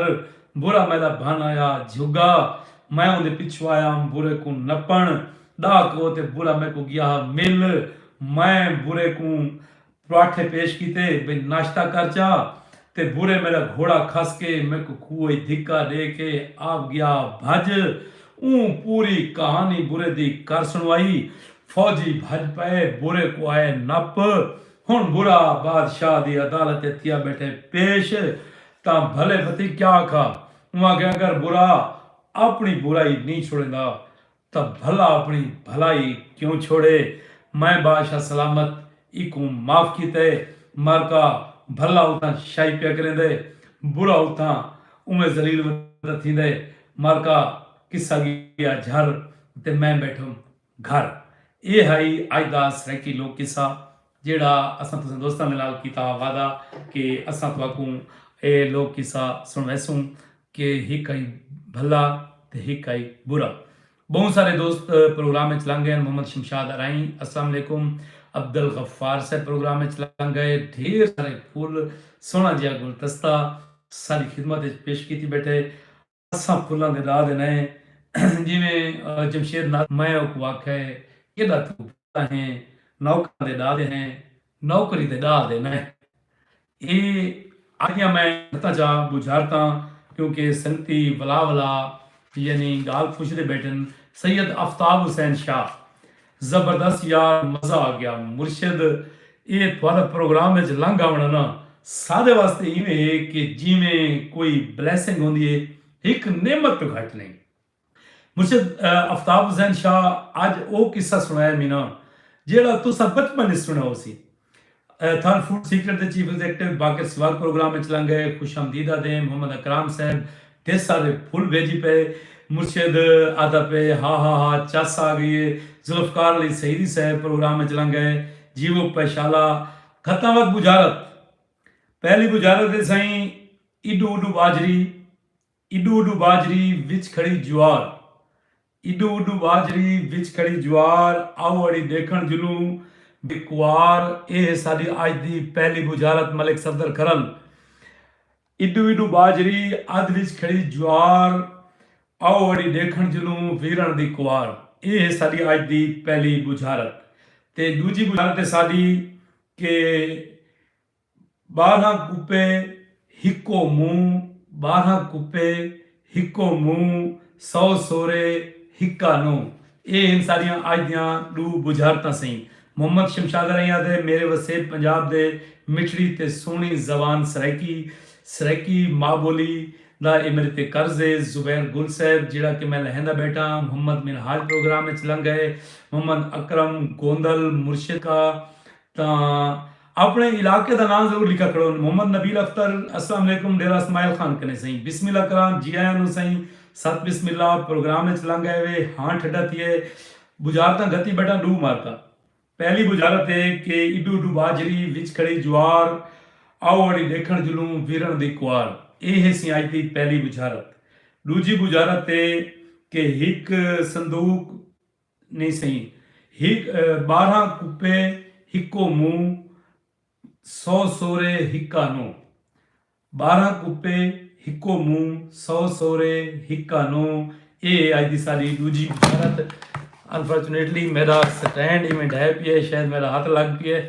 برا میݙا بھن آیا جھگا میں اوندے پچھوں آیا ہم برے کوں نپݨ ݙاہ کوہ تے برا میکوں ڳیا ہا مل میں برے کوں پراٹھے پیش کیتے بھئی ناشتہ کر چا تے برے میݙا گھوڑا کھس کے میکوں کھوہ اچ دھکا ݙے کے آپ ڳیا ہا بھڄ اوں پوری کہانی برے دی کر سݨوائی فوجی بھڄ پئے برے کوں آئے نپ ہݨ برا بادشاہ دی عدالت ء تھیا ٻیٹھے پیش تاں بھلے پتی کیا آکھا؟ اوں آکھیا اگر برا آپݨی برائی نئیں چھوڑیندا تاں بھلا آپݨی بھلائی کیوں چھوڑے؟ میں بادشاہ سلامت ایکوں معاف کیتا ہے مارکا بھلا اتھاں شاہی پیا کریندا ہے برا اتھاں اونویں ذلیل ودا تھیندا ہے مارکا قصہ ڳیا جھر تے میں ٻیٹھم گھر، ایہ ہئی اج دا سرائیکی لوک قصہ جیہڑا اساں تساں دوستاں دے نال کیتا ہا وعدہ کہ اساں تہاکوں ایہ لوک قصہ سنڑویسوں کہ ہک ہئی بھلا تے ہک ہئی برا۔ بہوں سارے دوست پروگرام اچ لنگ گئین محمد شمشاد ارائیں السلام علیکم عبدالغفار صاحب پروگرام اچ لنگ گئے ڈھیر سارے پھول سوہنڑا جیہا گلدستہ ساڈی خدمت اچ پیش کیتی بیٹھے۔ اساں پھلاں دے راہ دے نئیں ہیں جیویں جمشید ناصر میں اوکوں آکھیا ہے کیݙا توں پھلا ہیں نوکراں دے ݙاہ دے ہیں نوکری تے ݙاہ دے نئیں اے آکھیا میں ݙتا چا ٻجھارتاں کیونکہ سنگتی ولا ولا یعنی ڳالھ پچھدے ٻیٹھن سید افتاب حسین شاہ زبردست یار مزہ آگیا۔ مرشد اے تہاڈا پروگرام اچ لنگ آونڑاں نا ساڈے واسطے ایویں ہے کہ جیویں کوئی بلیسنگ ہوندی ہے ہک نعمت توں گھٹ نئیں۔ مرشد افتاب حسین شاہ اج او قصہ سنڑایا مینا جیہڑا تساں بچپن اچ سنڑیا ہوسی۔ تھن فوڈ سیکرٹ دے چیف ایگزیکٹو باقر سواد پروگرام اچ لنگ گئے، خوش آمدید آدھیں، محمد اکرام صاحب دے سارے پھل بھیجی پئے، مرشد آدھا پئے ہا ہا ہا چس آ گئی اے، ذوالفقار علی سعیدی صاحب پروگرام اچ لنگ گئے، جیوو پیشالا گھتاں وت بجھارت پہلی بجھارت اے سئیں ایڈو اوڈو ٻاجھری۔ اڈو اڈو ٻاجھری وچ کھڑی جوار اڈو اڈو ٻاجھری وچ کھڑی جوار آؤ اڑی ݙیکھݨ جلوں بے کوار اے ہے ساݙی اڄ دی پہلی بجھارت ملک صفدر کرن اڈو اڈو ٻاجھری ادھ وچ کھڑی جوار آؤ اڑی ݙیکھݨ جلوں ویرݨ دی کوار اے ہے ساݙی اڄ دی پہلی بجھارت تے ݙوجھی بجھارت ہے ساݙی کہ ٻارہاں کپے ہکو منہ ٻارہاں کپے ہکو منہ سو سورے ہکا نوں اے ہن ساݙیاں اڄ دیاں ݙو ٻجھارتاں سئیں محمد شمشادر ائیں آہدے میرے وسیب پنجاب دے مٹھڑی تے سوہݨی زبان سرائیکی سرائیکی ماء ٻولی دا اے میݙے تے قرض اے زبیر گل صاحب جیڑھا کہ میں لہیندا ٻیٹھا ہاں محمد منہاج پروگرام اچ لنگھ ڳئے محمد اکرم گوندل مرشد دا تاں اپنڑے علاقے دا ناں ضرور لکھا کھڑو۔ محمد نبیل اختر، السلام علیکم ڈیرہ اسماعیل خان کنیں سئیں۔ بسم اللہ کراں جی آیاں نوں سئیں۔ ست بسم اللہ پروگرام اچ لنگ آئے وے ہاں ٹھڈا تھیے بجارتاں گھتی بیٹھاں ڈو عمارتاں۔ پہلی بجارت اے کہ ایڈو ایڈو باجری وچ کھڑی جوار آؤ اڑی ڈیکھنڑ جلوں ویرنڑ دی کوار اے ہے سی اج دی پہلی بجارت۔ ڈوجھی بجارت اے کہ ہک صندوق۔ نئیں سئیں ہک ٻارہاں کپے ہکو منہ سو سورے ہکا نو ٻارہاں کپے ہکو منہ سو سورے ہکا نو اے اج دی ساڈی ڈوجھی بشارت انفارچونیٹلی میرا سٹینڈ ایویں ڈھے پیے شاید میرا ہاتھ لگ پیے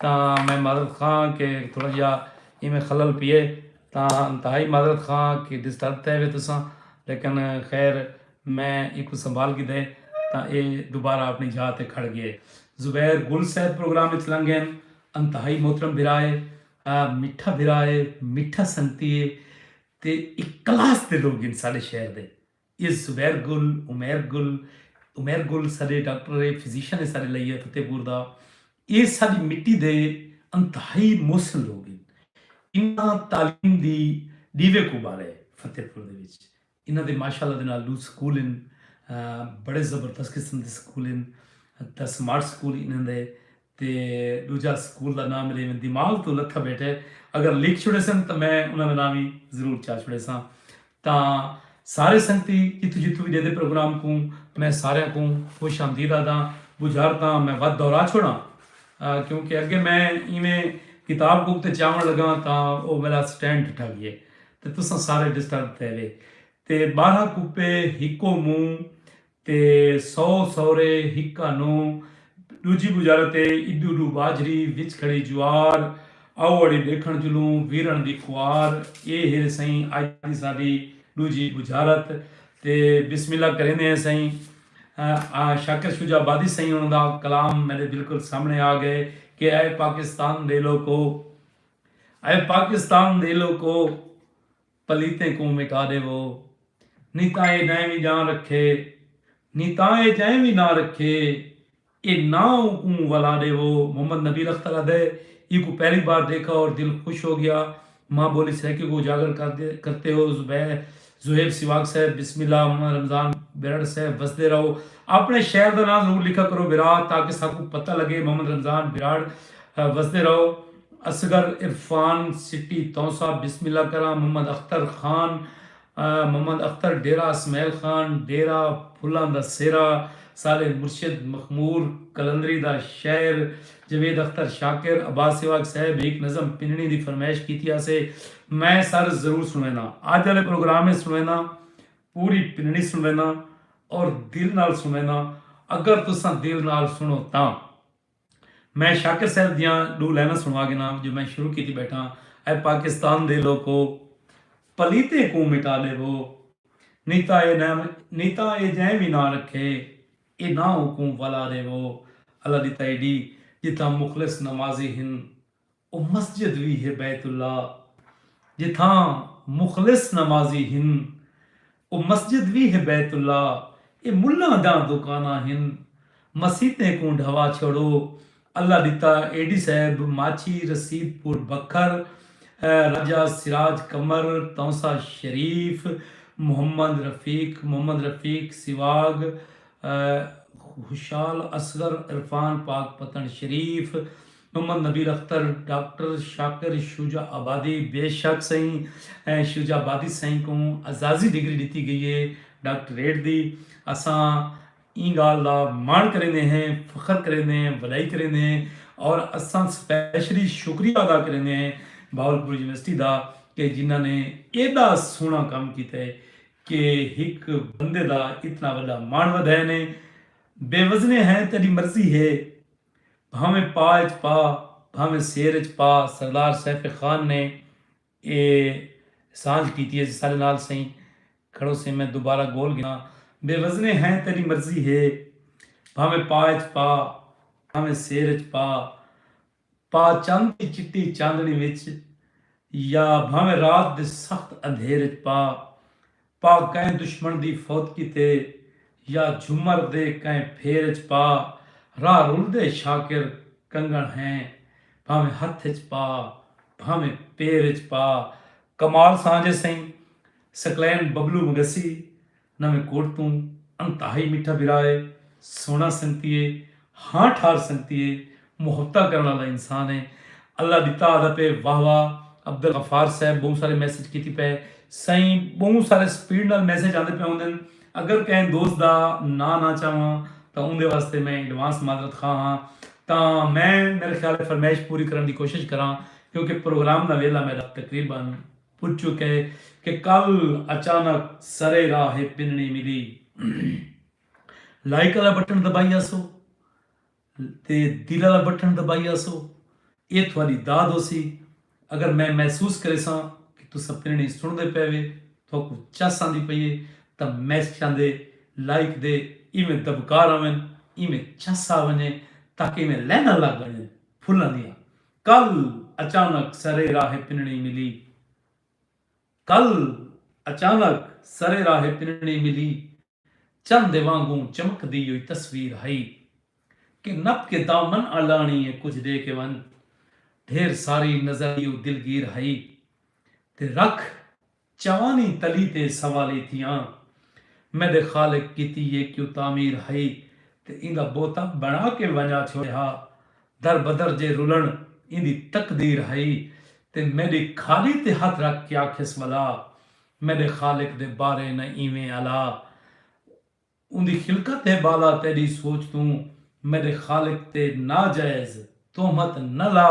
تاں میں معذرت خواں کہ تھوڑا جہا ایویں خلل پیے تاں انتہائی معذرت خواں کہ ڈسٹرب تھے وے تساں لیکن خیر میں اینکوں سنبھال گھدا ہے تاں ایہ دوبارہ اپݨی جاہ تے کھڑ ڳیا ہے۔ زبیر گل صاحب پروگرام اچ لنگھ ڳئن۔ انتہائی محترم بھرا ہے۔ میٹھا بھرا ہے۔ میٹھا سنگتی ہے۔ تے ایہ کلاس دے لوگ ہن ساݙے شہر دے۔ ایہ زبیر گل، عمیر گل، عمیر گل ساݙے ڈاکٹر ہے، فزیشن ہے ساݙے لئی فتح پور دا۔ ایہ ساݙی مٹی دے انتہائی محسن لوگ ہن۔ انہاں تعلیم دی ݙیوے کوں ٻالیا ہے فتح پور دے وچ۔ انہاں دے ماشاءاللہ دے نال ݙو سکول ہن۔ بڑے زبردست قسم دے سکول ہن۔ تاں سمارٹ سکول انہاں دے تے ݙوجھا سکول دا ناں میݙے دماغ توں لتھا ٻیٹھے۔ اگر لکھ چھوڑیسن تاں میں انہاں دا ناں وی ضرور چا چھوڑیساں۔ تاں سارے سنگتی جتھوں جتھوں وی ݙیہدے پروگرام کوں میں ساریاں کوں خوش آمدید آہداں۔ ٻجھار تاں میں ودھ دوہرا چھوڑاں کیونکہ اگے میں ایویں کتاب کوک تے چاوݨ لڳاں تاں او میݙا سٹینڈ ڈھٹا ڳیے۔ تے تساں سارے ڈسٹرب تھئے وے۔ تے ٻارہاں کپے ہکو منہ تے سو سورے ہکا نو ݙوجھی ٻجارت اے ایݙو ݙو ٻاجھری وچ کھڑی جوار آؤ اڑی ݙیکھݨ چلوں ویرݨ دی خوار اے ہیرے سئیں اڄ دی ساݙی ݙوجھی ٻجھارت تے بسم اللہ کریندے ہیں سئیں شاکر شجاع آبادی سئیں انہاں دا کلام میݙے بالکل سامݨے آ ڳئے کہ اے پاکستان دے لوکو۔ اے پاکستان دے لوکو پلیتیں کوں مٹا ڈیوو نی تاں اے جئیں وی جان رکھے نی تاں اے جئیں وی ناں رکھے اے ناں اوں کوں ولا ڈیوو محمد نبیل اختر ادے ای کوں پہلی بار دیکھا اور دل خوش ہو گیا ماں بولی سرائیکی کو اجاگر کرتے ہو زوہیب سواگ صاحب بسم اللہ محمد رمضان برڑ صاحب وسدے رہو اپنے شہر دا ناں ضرور لکھا کرو برا تاکہ ساکوں پتہ لگے محمد رمضان برڑ وسدے رہو۔ اصغر عرفان سٹی تونسہ بسم اللہ کراں محمد اختر خان محمد اختر ڈیرہ اسمعیل خان ڈیرہ پھلاں دا سیرا صالح مرشد مخمور قلندری دا شعر جاوید اختر شاکر عباس سواگ صاحب ہیک نظم پنڑی دی فرمائش کیتی ہاسے میں سر ضرور سنڑینداں اج آلے پروگرام اچ سنڑینداں پوری پنڑی سنڑینداں اور دل نال سنڑینداں اگر تساں دل نال سنڑو تاں۔ میں شاکر صاحب دیاں ڈو لائناں سنڑوا گھنا جو میں شروع کیتی بیٹھاں اے پاکستان دے لوکو پلیتیں کوں مٹا ڈیوو نی تاں اے جئیں وی ناں رکھے اے ناں اوکوں ولا ڈیوو اللہ دی تئیڈی جتھاں مخلص نمازی ہن او مسجد وی ہے بیت اللہ جتھاں مخلص نمازی ہن۔ او مسجد وی ہے بیت اللہ اے ملاں دیاں دکاناں ہن۔ مسیتیں کوں ڈھوا چھوڑو اللہ ڈتا اے ڈی صاحب ماچھی رسید پور بکھر راجہ سراج قمر تونسہ شریف محمد رفیق محمد رفیق سواگ Khushal Asghar Irfan Pakpattan Sharif Muhammad Nabeel Akhtar, doctor Shakir Shujabadi, بے شک سئیں شجاع آبادی سئیں کوں اعزازی ڈگری ڈتی گئی اے ڈاکٹریٹ دی اساں ایں گالھ دا ماݨ کریندے ہیں فخر کریندے ہیں وݙائی کریندے ہیں اور اساں سپیشلی شکریہ ادا کریندے ہیں بہاولپور یونیورسٹی دا کہ جنہاں نے ایݙا سوہݨا کم کیتا ہے کہ ہک بندے دا اتنا وݙا ماݨ ودھئے نے بے وزنے ہیں تیݙی مرضی ہے بھانویں پا اچ پا بھانویں سیر اچ پا سردار سیف خان نے اے سانجھ کیتی اے ساڈے نال سئیں کھڑو سئیں میں دوبارہ گول گھناں بے وزنے ہیں تیڈی مرضی ہے بھانویں پا اچ پا بھانویں سیر اچ پا پا چند دی چٹی چاندنی وچ یا بھانویں رات دے سخت اندھیر اچ پا پا کئیں دشمن دی فوت کیتے یا جھمر دے کئیں پھیر اچ پا راہ رلدے شاکر کنگن ہیں بھانویں ہتھ اچ پا بھانویں پیر اچ پا کمال سانجھ اے سئیں سکلین ببلو مگسی نویں کوٹ توں انتہائی میٹھا بھرا اے سوہنڑا سنگتی اے ہاں ٹھار سنگتی اے محبتاں کرن آلا انسان اے اللہ ڈتا آدا پے واہ واہ عبدالغفار صاحب بہوں سارے میسج کیتی پے سائیں بہوں سارے سپیڈ نال میسج آندے پے ہوندن اگر کہیں دوست دا ناں نہ چاواں تاں اوندے واسطے میں ایڈوانس معذرت خواہ ہاں تاں میں میرے خیال اے فرمائش پوری کرن دی کوشش کراں کیونکہ پروگرام دا ویلھا میڈا تقریبا پج چکے کہ کل اچانک سرے راہ اے پنڑی ملی۔ لائک آلا بٹن دبائی آسو تے دل آلا بٹن دبائی آسو اے تھواڈی داد ہوسی اگر میں محسوس کریساں کہ تساں پرنڑی سنڑدے پے وے تھوکو چس آندی پئی اے تاں میسجاں دے لائک دے ایویں دبکار آون ایویں چس آ ونجے تاکہ ایویں لیناں لگ ونجن پھلاں دیاں کل اچانک سرے راہے پنڑی ملی کل اچانک سرے راہے پنڑی ملی۔ چن دے وانگوں چمکدی ہوئی تصویر ہئی کہ نپ کے دامن الاݨی اے کجھ ݙے کے ونڄ ڈھیر ساری نظر ایہو دلگیر ہئی تے رکھ چوانی تلی تے سوالی تھیاں میݙے خالق کیتی اے کیوں تعمیر ہئی تے ایندا بوتا بݨا کے ونڄا چھوڑے ہا در بدر جے رلݨ ایندی تقدیر ہئی تے میݙی کھالی تے ہتھ رکھ کے آکھیس ولا میݙے خالق دے بارے نہ ایویں الا اوندی خلقت ہے ٻالا تیݙی سوچ توں میݙے خالق تے ناجائز تہمت نہ لا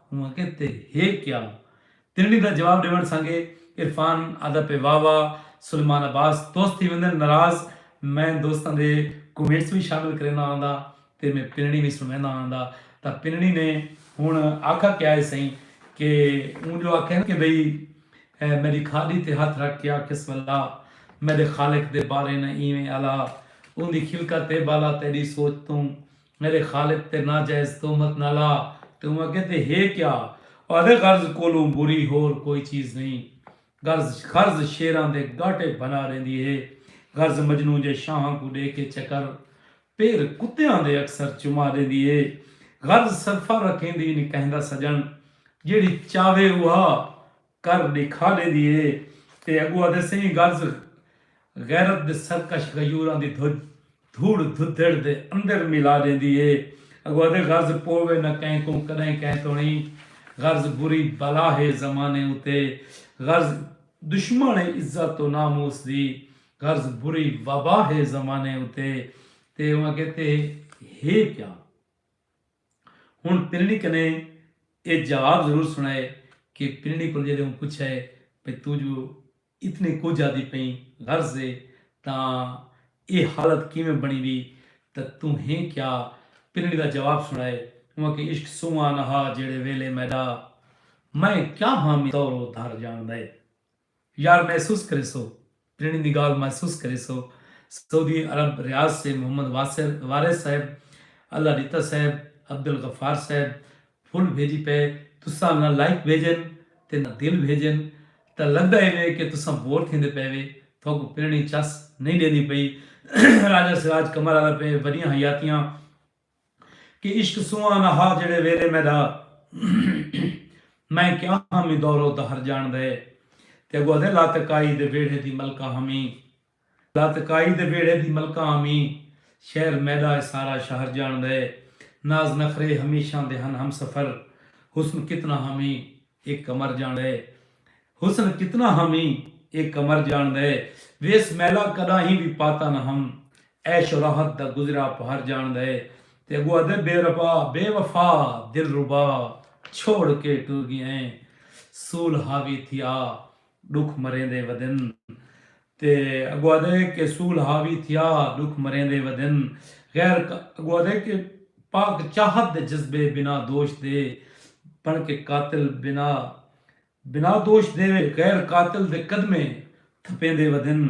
اونہاں کے تے ہے کیا ترݨی دا جواب ݙیوݨ سانگے عرفان آہدا پئے واہ واہ سلیمان عباس دوست تھی ویندن ناراض میں دوستاں دے کومنٹس وی شامل کرینداں آنداں تے میں پنڑی وی سنویندا ہاں دا تاں پنڑی نے ہنڑ آکھا کیا ہے سئیں کہ اوں جو آکھے نا کہ بھئی میڈی کھاڈی تے ہتھ رکھ کے آکھیس ولا میڈے خالق دے بارے نہ ایویں الا اوندی خلقت اے بالا تیڈی سوچ توں میڈے خالق تے ناجائز تہمت نہ لا تے اوں آکھے تے ہے کیا اہدے غرض کولوں بری ہور کوئی چیز نئیں غرض غرض شیراں دے گاٹے بھنا ریندی ہے غرض مجنوں جے شاہاں کوں ڈے کے چکر پیر کتیاں دے اکثر چما ڈیندی اے غرض سرفا رکھیندی نی کہندا سجن جیڑھی چاوے اوہا کر ڈیکھا ڈیندی اے تے اگو آدھے سئیں غرض غیرت دے سرکش غیوراں دی دھج دھوڑ دھدھڑ دے اندر ملا ڈیندی اے اگو آدھے غرض پووے نہ کہیں کوں کڈہیں کہیں توڑیں غرض بری بلا ہے زمانے اتے غرض دشمن اے عزت و ناموس دی قرض بری وبا ہے زمانے اتے تے اوہ کہتے ہے کیا ہن پنڑی کنے اے جواب ضرور سنائے کہ پنڑی کول جیلے اوں پچھے پہ تو جو اتنے کچھ آدھی پئیں غرض ہے تاں اے حالت کیویں بنی وی تاں تو ہے کیا پنڑی دا جواب سنائے اوہ کہ عشق سواں نہا جیڑے ویلے میڈا میں کیا ہاں میں تورو دھر جان دے۔ یار محسوس کریسو جنڑی دی گالھ محسوس کریسو سعودی عرب ریاض سے محمد واصر وارث صاحب اللہ ڈتا صاحب عبدالغفار صاحب پھل بھیجی پئے تساں نہ لائک بھیجن تے نہ دل بھیجن تاں لگدا ایوے کہ تساں بور تھیندے پئے وے تھوکوں پرنڑی چس نئیں ڈیندی پئی راجہ سراج قمر آدا پئے وڈیاں حیاتیاں کہ عشق سواں نہ ہا جیڑھے ویلے میڈا میں کیا ہاں می دورو دہر جان دے تے اگو ادھے لاتکائی دے ویڑھے دی ملکہ ہاں می لاتکائی دے ویڑھے دی ملکہ ہاں می شہر میڈا اے سارا شہر جان دے ناز نخرے ہمیشاں دے ہن ہمسفر حسن کتنا ہاں می اے قمر جان دے حسن کتنا ہاں می اے قمر جان دے ویس میلا کڈاہیں وی پاتا نہ ہم عیش و راحت دا گزریا آپ ہر جانڑدا ہے تے اگو آہدے بے ربا بے وفا دلربا چھوڑ کے ٹر گی ہیں سول حاوی تھی آ ڈکھ مریندے ودن تے اگو آہدے کہ سول حاوی تھی آ ڈکھ مریندے ودن غیر اگو آہدے کہ پاک چاہت دے جذبے بنا دوش دے بن کے قاتل بنا بنا دوش دے وے غیر قاتل دے قدمے تھپیندے ودن۔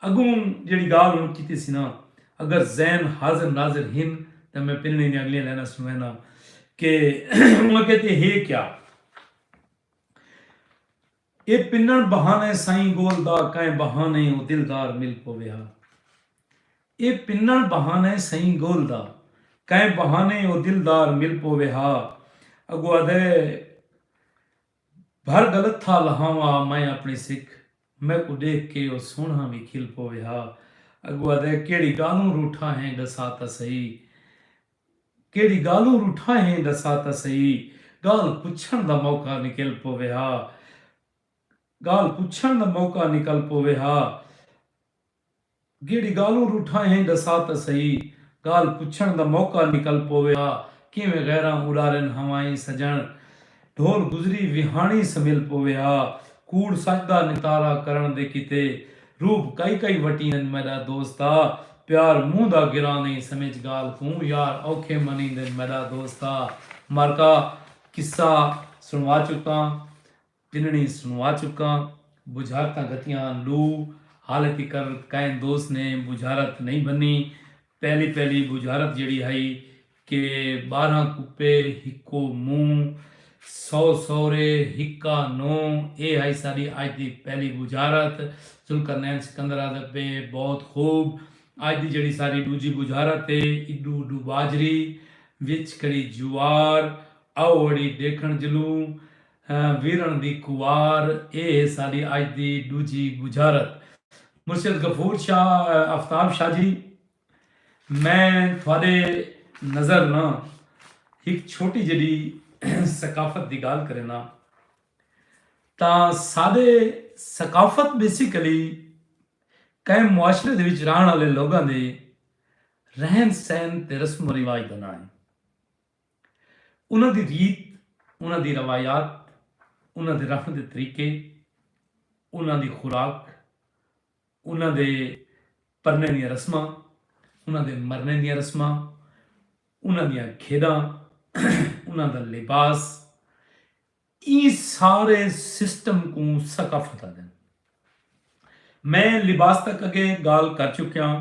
اگوں جیڑھی گالھ ہن کیتی سی نا اگر ذہن حاضر ناظر ہن تاں میں پنڑیں دیاں اگلیاں لائناں سنوینا کہ انہاں کیت اے ہے کیا؟ اے پنڑ بہانہ سائیں گول دا کائیں بہانہ او دلدار مل پووے ہا۔ اے پنݨ بہانہ اے سئیں گول دا۔ کئیں بہانے او دلدار مل پووے ہا۔ اڳو آہدے بھر گلت تھا لہاوا میں اپݨی سک۔ میکوں ݙیکھ کے او سوہݨا وی کھل پووے ہا۔ اڳو آہدے کیڑھی ڳالھوں روٹھا ہیں ݙسا تاں سہی۔ کیڑھی ڳالھوں روٹھا ہیں ݙسا تاں سہی۔ ڳالھ پچھݨ دا موقع نکل پووے ہا۔ ڳالھ پچھݨ دا موقع نکل پووے ہا۔ جیڑھی گالھوں روٹھاں ہیں ڈسا تاں سہی گالھ پچھن دا موقع نکل پووے ہا کیویں غیراں اڈارن ہوائیں سجن ڈھول گزری ویہاݨی سمل پووے ہا کوڑ سچ دا نتارا کرݨ دے کیتے روپ کئی کئی وٹی ہن میڈا دوستا پیار منہ دا گراں نئیں سمجھ گالھ کوں یار اوکھے منیندن میڈا دوستا مرکا قصہ سنوا چکاں تنڑیں سنوا چکاں، بجھارتاں گھتیاں لو حال تکر کائیں دوست نے بجھارت نئیں بھنی، پہلی پہلی بجھارت جیڑھی ہئی کہ بارہاں کپے ہکو منہ، سو سورے ہکا نوں، اے ہئی ساڈی اج دی پہلی بجھارت، ذوالقرنین سکندر آہدے پئے بہت خوب، اج دی جیڑھی ساڈی ڈوجھی بجھارت اے، ایڈو اڈو باجری، وچ کھڑی جوار، آؤ اڑی ڈیکھنڑ جلوں، ویرݨ دی کوار اے ساݙی اڄ دی ݙوجھی ٻجھارت۔ مرشد غفور شاہ آفتاب شاہ جی میں تھاݙے نظر نہ ہک چھوٹی جݙی ثقافت دی ڳالھ کرینداں تاں ساݙے ثقافت بیسیکلی کئیں معاشرے دے وچ رہݨ آلے لوکاں دے رہن سہن تے رسم و رواج دا ناں اے۔ انہاں دی ریت، انہاں دی روایات، انہاں دے رہݨ دے طریقے، انہاں دی خوراک، انہاں دے پرݨے دیاں رسماں، انہاں دے مرݨے دیاں رسماں، انہاں دیاں کھیݙاں، انہاں دا لباس، ایں سارے سسٹم کوں ثقافت آدن۔ میں لباس تک اگے گالھ کر چکیاں۔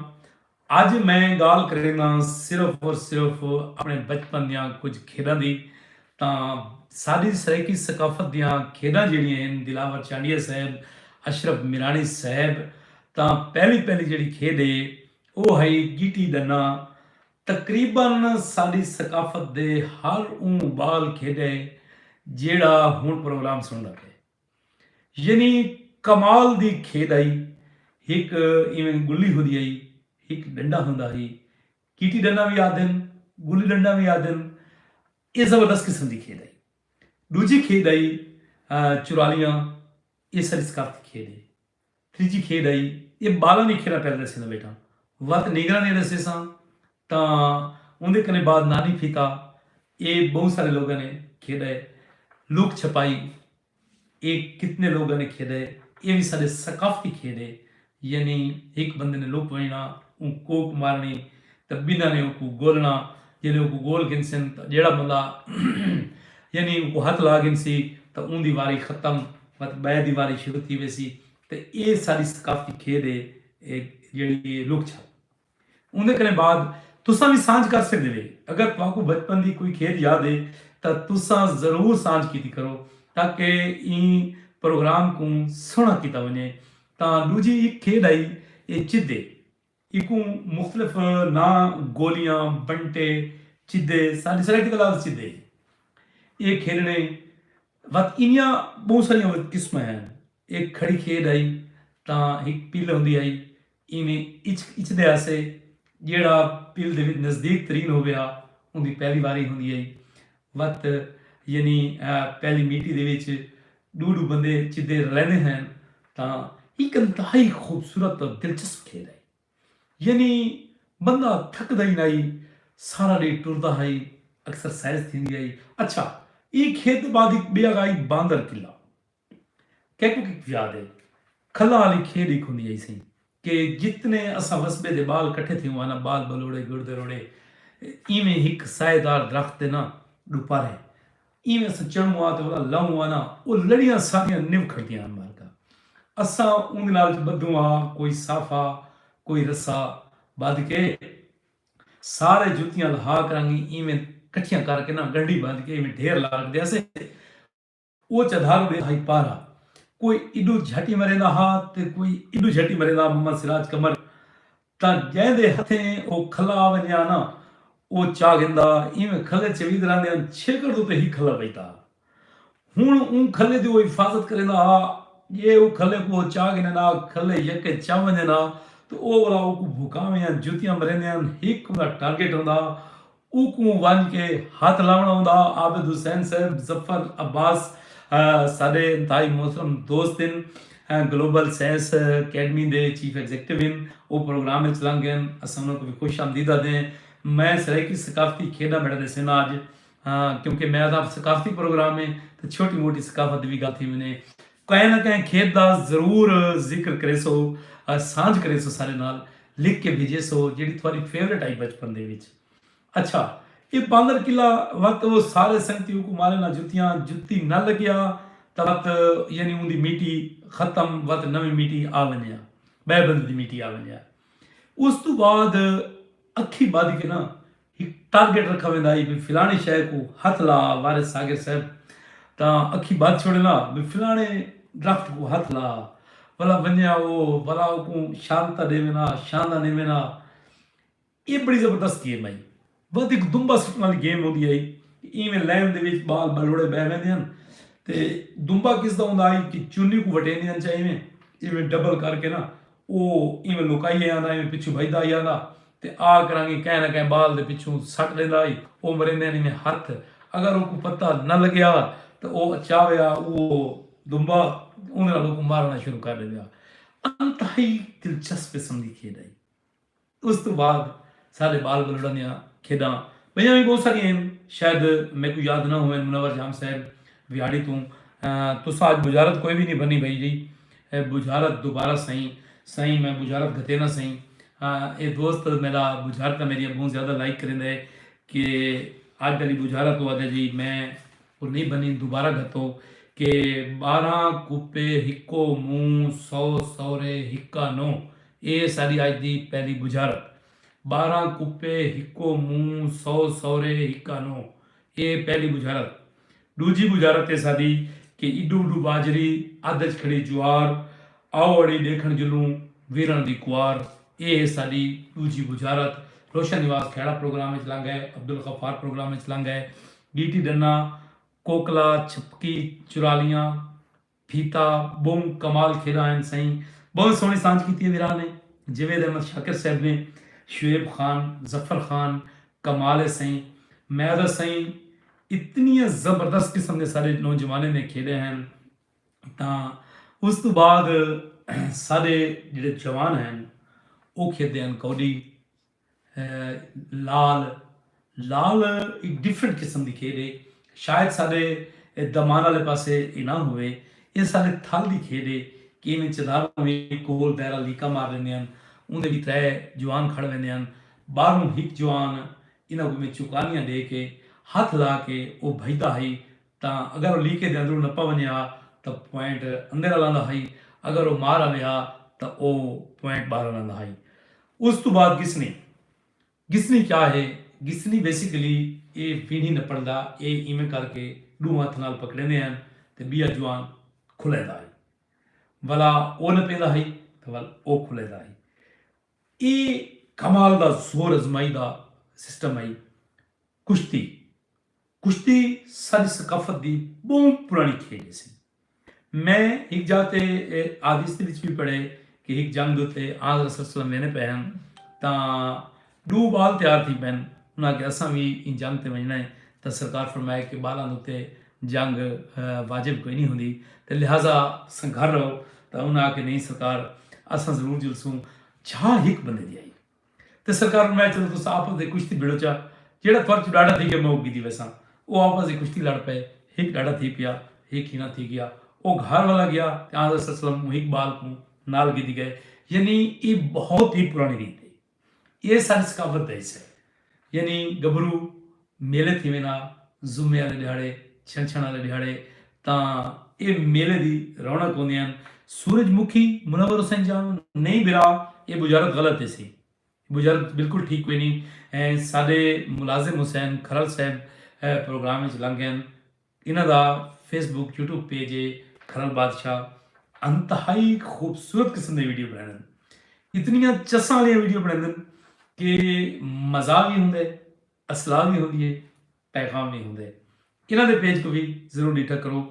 اج میں گالھ کرینداں صرف اور صرف اپنے بچپن دیاں کجھ کھیڈاں دی تاں ساڈی سرائیکی ثقافت دیاں کھیڈاں جیڑھیاں ہن دلاور چانڈیا صاحب، اشرف میراݨی صاحب تاں پہلی پہلی جیڑھی کھیڈ ہے او ہئی گیٹی ڈنہ تقریبا ساݙی ثقافت دے ہر اوں ٻال کھیݙے جیڑھا ہݨ پروگرام سݨدا پئے یعنی کمال دی کھیݙ ہئی ہک ایویں ڳلی ہوندی ہئی ہک ݙنڈا ہوندا ہئی گیٹی ݙنڈا وی آہدن ڳلی ݙنڈا وی آہدن اے زبردست قسم دی کھیݙ ہئی ݙوجھی کھیݙ ہئی چرالیاں اے ساݙی ثقافتی کھیݙ ہئی۔ تریجھی کھیڈ ہئی اے بالاں دی کھیڈاں پیا کریسیں تاں بیٹا وت نینگراں نیں ڈسیساں تاں اوندے کنے بعد نانی پھیتا اے بہوں سارے لوگاں نیں کھیڈا اے لک چھپائی اے کتنے لوگاں نیں کھیڈا اے اے وی ساڈے ثقافتی کھیڈ اے یعنی ہک بندے نیں لک ونجنا اوں کوک مارنڑی تاں بنہاں نیں اوکوں گولنڑا جیلے اوکوں گول گھنسن تاں جیڑھا بندہ یعنی اوکوں ہتھ لا گھنسی تاں اوندی واری ختم۔ مت بئے دی واری شروع تھی ویسی تے اے ساڈی ثقافتی کھیڈ اے اے جیڑی اے لک چھپ اوندے کنے بعد تساں وی سانجھ کر سکدے وے اگر تہاکوں بچپن دی کوئی کھیڈ یاد اے تاں تساں ضرور سانجھ کیتی کرو تاکہ ایں پروگرام کوں سوہنڑا کیتا ونجے تاں ڈوجھی ہک کھیڈ ہئی اے چدے ایکوں مختلف ناں گولیاں، بنٹے، چدے، ساݙی سرائیکی تاں لفظ چدے ہی۔ ایہ کھیݙݨیں وت اینیاں ٻہوں ساریاں قسماں ہن۔ ایہ کھڑی کھیݙ ہئی تاں ہک پل ہوندی ہئی اینویں اچک اچدے ہاسے جیڑھا پل دے وچ نزدیک ترین ہووے ہا اوندی پہلی واری ہوندی ہئی۔ وت یعنی پہلی میٹی دے وچ ڈو ڈو بندے چدے رلیندے ہن تاں ہک انتہائی خوبصورت تے دلچسپ کھیڈ ہئی یعنی بندہ تھکدا ہی نائی سارا ڈینہہ ٹردا ہئی اکسرسائز تھیندی ہئی اچھا ایں کھیڈ دے بعد ہک بیا گا ہئی باندر قلعہ کیکوں کیکوں یاد ہے کھلاں آلی کھیڈ ہک ہوندی ہئی سئیں کہ جتنے اساں وسبے دے بال کٹھے تھیوں ہاں نا بال بلوڑے گڑدے روڑے ایویں ہک سائے دار درخت دے نا ڈوپارے ایویں اساں چڑھوں ہاں تے اولا لہوں ہاں نا او لڑیاں ساڈیاں نبھ کھڑدیاں ہن مالکا اساں اوندے نال اچ بدھوں ہاں کوئی سافا کوئی رسا بدھ کے سارے جتیاں لہا کرانگی ایویں کٹھیاں کر کے نا گنڈی بدھ کے ایویں ڈھیر لا رکھدے ہسے او چدھارو ݙے ہئی پارا کوئی ایݙو جھٹی مریندا ہا تے کوئی ایݙو جھٹی مریندا محمد سراج قمر تاں جیندے ہتھیں او کھلا ونڄا نا او چا گھندا ایویں کھلے چویدراں دیاں چھرکڑ دو تے ہی کھلا پئیتا ہا ہن اوں کھلے دی او حفاظت کریندا ہا جے او کھلے کوں او چا گھنے نا کھلے یکے چا ونڄے نا تے او ولا او کوں بھکاویں یاں جتیاں مریندیاں ہک اوندا ٹارگٹ ہوندا اوکوں ونج کے ہتھ لاونڑ ہوندا۔ عابد حسین صاحب ظفر عباس ساڈے انتہائی محترم دوست ہن گلوبل سائنس اکیڈمی دے چیف ایگزیکٹو ہن او پروگرام وچ لنگ گئن اساں انہاں کوں وی خوش آمدید آکھدے ہیں میں سرائیکی ثقافتی کھیڈاں بارے ڈسینا اج کیونکہ میں آکھداں ثقافتی پروگرام ہے تے چھوٹی موٹی ثقافت دی وی گل تھی ونجے۔ کہیں نہ کہیں کھیت دا ضرور ذکر کریسو سانجھ کریسو سارے نال لکھ کے بھیجیسو جیڑی تھواری فیورٹ آئی بچپن دے وچ اچھا اے باندر قلعہ وت او سارے سنگتی اوکو مارے نہ جتیاں جتی نہ لگیا تاں وت یعنی اوندی میٹی ختم وت نویں میٹی آ ونجیا بئے بندے دی میٹی آ ونجیا اس توں بعد اکھی بدھ کے نہ ہک ٹارگٹ رکھا ویندا ہئی بھئی فلاݨی شے کوں ہتھ لا وارث ساغر صاحب تاں اکھیں ٻدھ چھوڑیندا بھئی فلاݨے درخت کوں ہتھ لا ولا ونڄے ہا او ولا اوکوں شہادتاں ݙیویں ہا شہاداں ݙیویں ہا اے بڑی زبردست گیم ہئی ودھ ہک دمبا سٹݨ والی گیم ہوندی ہئی اینویں لین دے وچ ٻال ٻلوڑے ٻہہ ویندے ہن تے دمبا کس دا ہوندا ہئی کہ چنی کوں وٹیندے ہن چا اینویں اینویں ڈبل کر کے نا او ایویں لکائی آیا ہندا، ایویں پچھوں بھڄدا آیا ہندا تے آ کرانگی کہیں نہ کہیں بال دے پچھوں سٹ ݙیندا ہئی۔ او مریندے ہن ایویں ہتھ اگر اوکوں پتہ نہ لڳیا تاں او اچاوے آ او دمبا اوندے نال اوکوں مارݨا شروع کر ݙیندے ہا۔ انتہائی دلچسپ قسم دی کھیݙ ہئی۔ اس توں بعد سارے بال بلوڑاں دیاں کھیڈاں بئیاں وی بہت ساریاں ہن شاید میکوں یاد نہ ہوون منور جام صاحب ویاڑی توں تساں اج بجارت کوئی وی نہیں بھنی بھائی جی بجارت دوبارہ سائیں سائیں میں بجارت گھتے نہ سائیں اے دوست میرا بجارت میری بہت زیادہ لائک کریندا ہے کہ اج دلی بجارت تو آدھے جی میں وہ نہیں بنی دوبارہ گھتو کہ بارہ کوپے ہکو منہ سو سورے ہکا نو اے ساݙی اڄ دی پہلی بجھارت۔ ٻارہاں کپے ہکو مونہہ سو سورے ہکا نو اے پہلی بجھارت۔ ݙوجھی بجھارت اے ساݙی کہ ایݙو اݙو ٻاجھری ادھ اچ کھڑی جوار آؤ اڑی ݙیکھݨ جلوں ویرݨ دی کوار اے ہے ساݙی ݙوجھی بجھارت۔ روشن نواز کھیڑا پروگرام اچ لنگھ ڳئے عبدالغفار پروگرام اچ لنگھ ڳئے ݙیٹی ݙنہ کوکلا چھپکی چرالیاں پھیتا بہوں کمال کھیرا ہن سئیں۔ بہوں سوہنی سانجھ کیتی ہے ویران نے جوید احمد شاکر صاحب نے شعیب خان ظفر خان کمال ہے سئیں میں دا سئیں اتنیاں زبردست قسم دے ساڈے نوجوانیں نے کھیڈے ہن تاں اس توں بعد ساڈے جیڑھے جوان ہن او کھیڈے ہن کوڈی۔ لال لال ہک ڈفرنٹ قسم دی کھیڈ ہے شاید ساڈے دمان آلے پاسے اے نہ ہووے اے ساڈے تھل دی کھیڈ ہے کہ اینویں چدھاروں وی گول دائرہ لیکا مار لیندے ہن اوندے وی ترے جوان کھڑ ویندے ہن باہروں ہک جوان انہاں کوں میں چوکانیاں ڈے کے ہتھ لا کے او بھجدا ہئی تاں اگر او لیکے دے اندروں نپا ونجے ہا تاں پوائنٹ اندر آلاندا ہئی اگر او مار آوے ہا تاں او پوائنٹ باہر آلاندا ہئی۔ اس توں بعد گسنی۔ گسنی کیا ہے؟ گسنی بیسیکلی اے وینڑھی نپنڑدا اے ایویں کر کے ڈو ہتھ نال پکڑیندے ہن تے بیا جوان کھلیندا ہئی ولا او نپیندا ہئی تے ول او کھلیندا ہئی اے کمال دا زور ازمائی دا سسٹم ہئی کشتی کشتی ساݙی ثقافت دی ٻہوں پراݨی کھیݙ ہیسی۔ میں ہک جاہ تے اے حادیث دے وچ وی پڑھے کہ ہک جنگ دے اتے آن حضرت صلی اللہ علیہ وسلم ویندے پئے ہن تاں ݙو ٻال تیار تھی پئن۔ انہاں آکھیا اساں وی ایں جنگ تے ونڄݨا ہے تاں سرکار فرمائے کہ ٻالاں دے اتے جنگ واجب کوئی نھیں ہوندی تے لہذا اساں گھر رہو تاں انہاں آکھیا نھیں سرکار اساں ضرور جلسوں۔ جاہ ہک بندے دی ہئی۔ تے سرکار فرمایا چلو تساں آپس دے کشتی بھیڑو چا جیہڑا تھوڑ چوں ڈاڈھا تھی گیا میں اوک گھدی ویساں او آپس دی کشتی لڑ پئے ہک ڈاڈھا تھی پیا ہک ہینا تھی گیا او گھار والا گیا تے آن صلی وسلم اوں ہک بال کوں نال گھدی گئے یعنی ایہ بہت ہی پرانی ریت ہے ایہ ساری ثقافت دا حصہ ہے یعنی گبھرو میلے تھیویں نا جمعے آلے ڈھیاڑے چھنچھن آلے ڈھیاڑے تاں اے میلے دی رونق ہوندی ہن سورج مکھی منور حسین جان نہیں برا اے بجارت غلط ہے سی بجارت بالکل ٹھیک کوئی نہیں ساڈے ملازم حسین کھرل صاحب پروگرام وچ لنگ گئن انہاں دا فیس بک یوٹیوب پیج ہے کھرل بادشاہ انتہائی خوبصورت قسم دے ویڈیو بنائیں اتنیاں چساں والیاں ویڈیو بنائیں کہ مزہ بھی ہوندے اسلال وی ہوندی ہے پیغام وی ہوندے انہاں دے پیج کوں وی ضرور ڈیٹھا کرو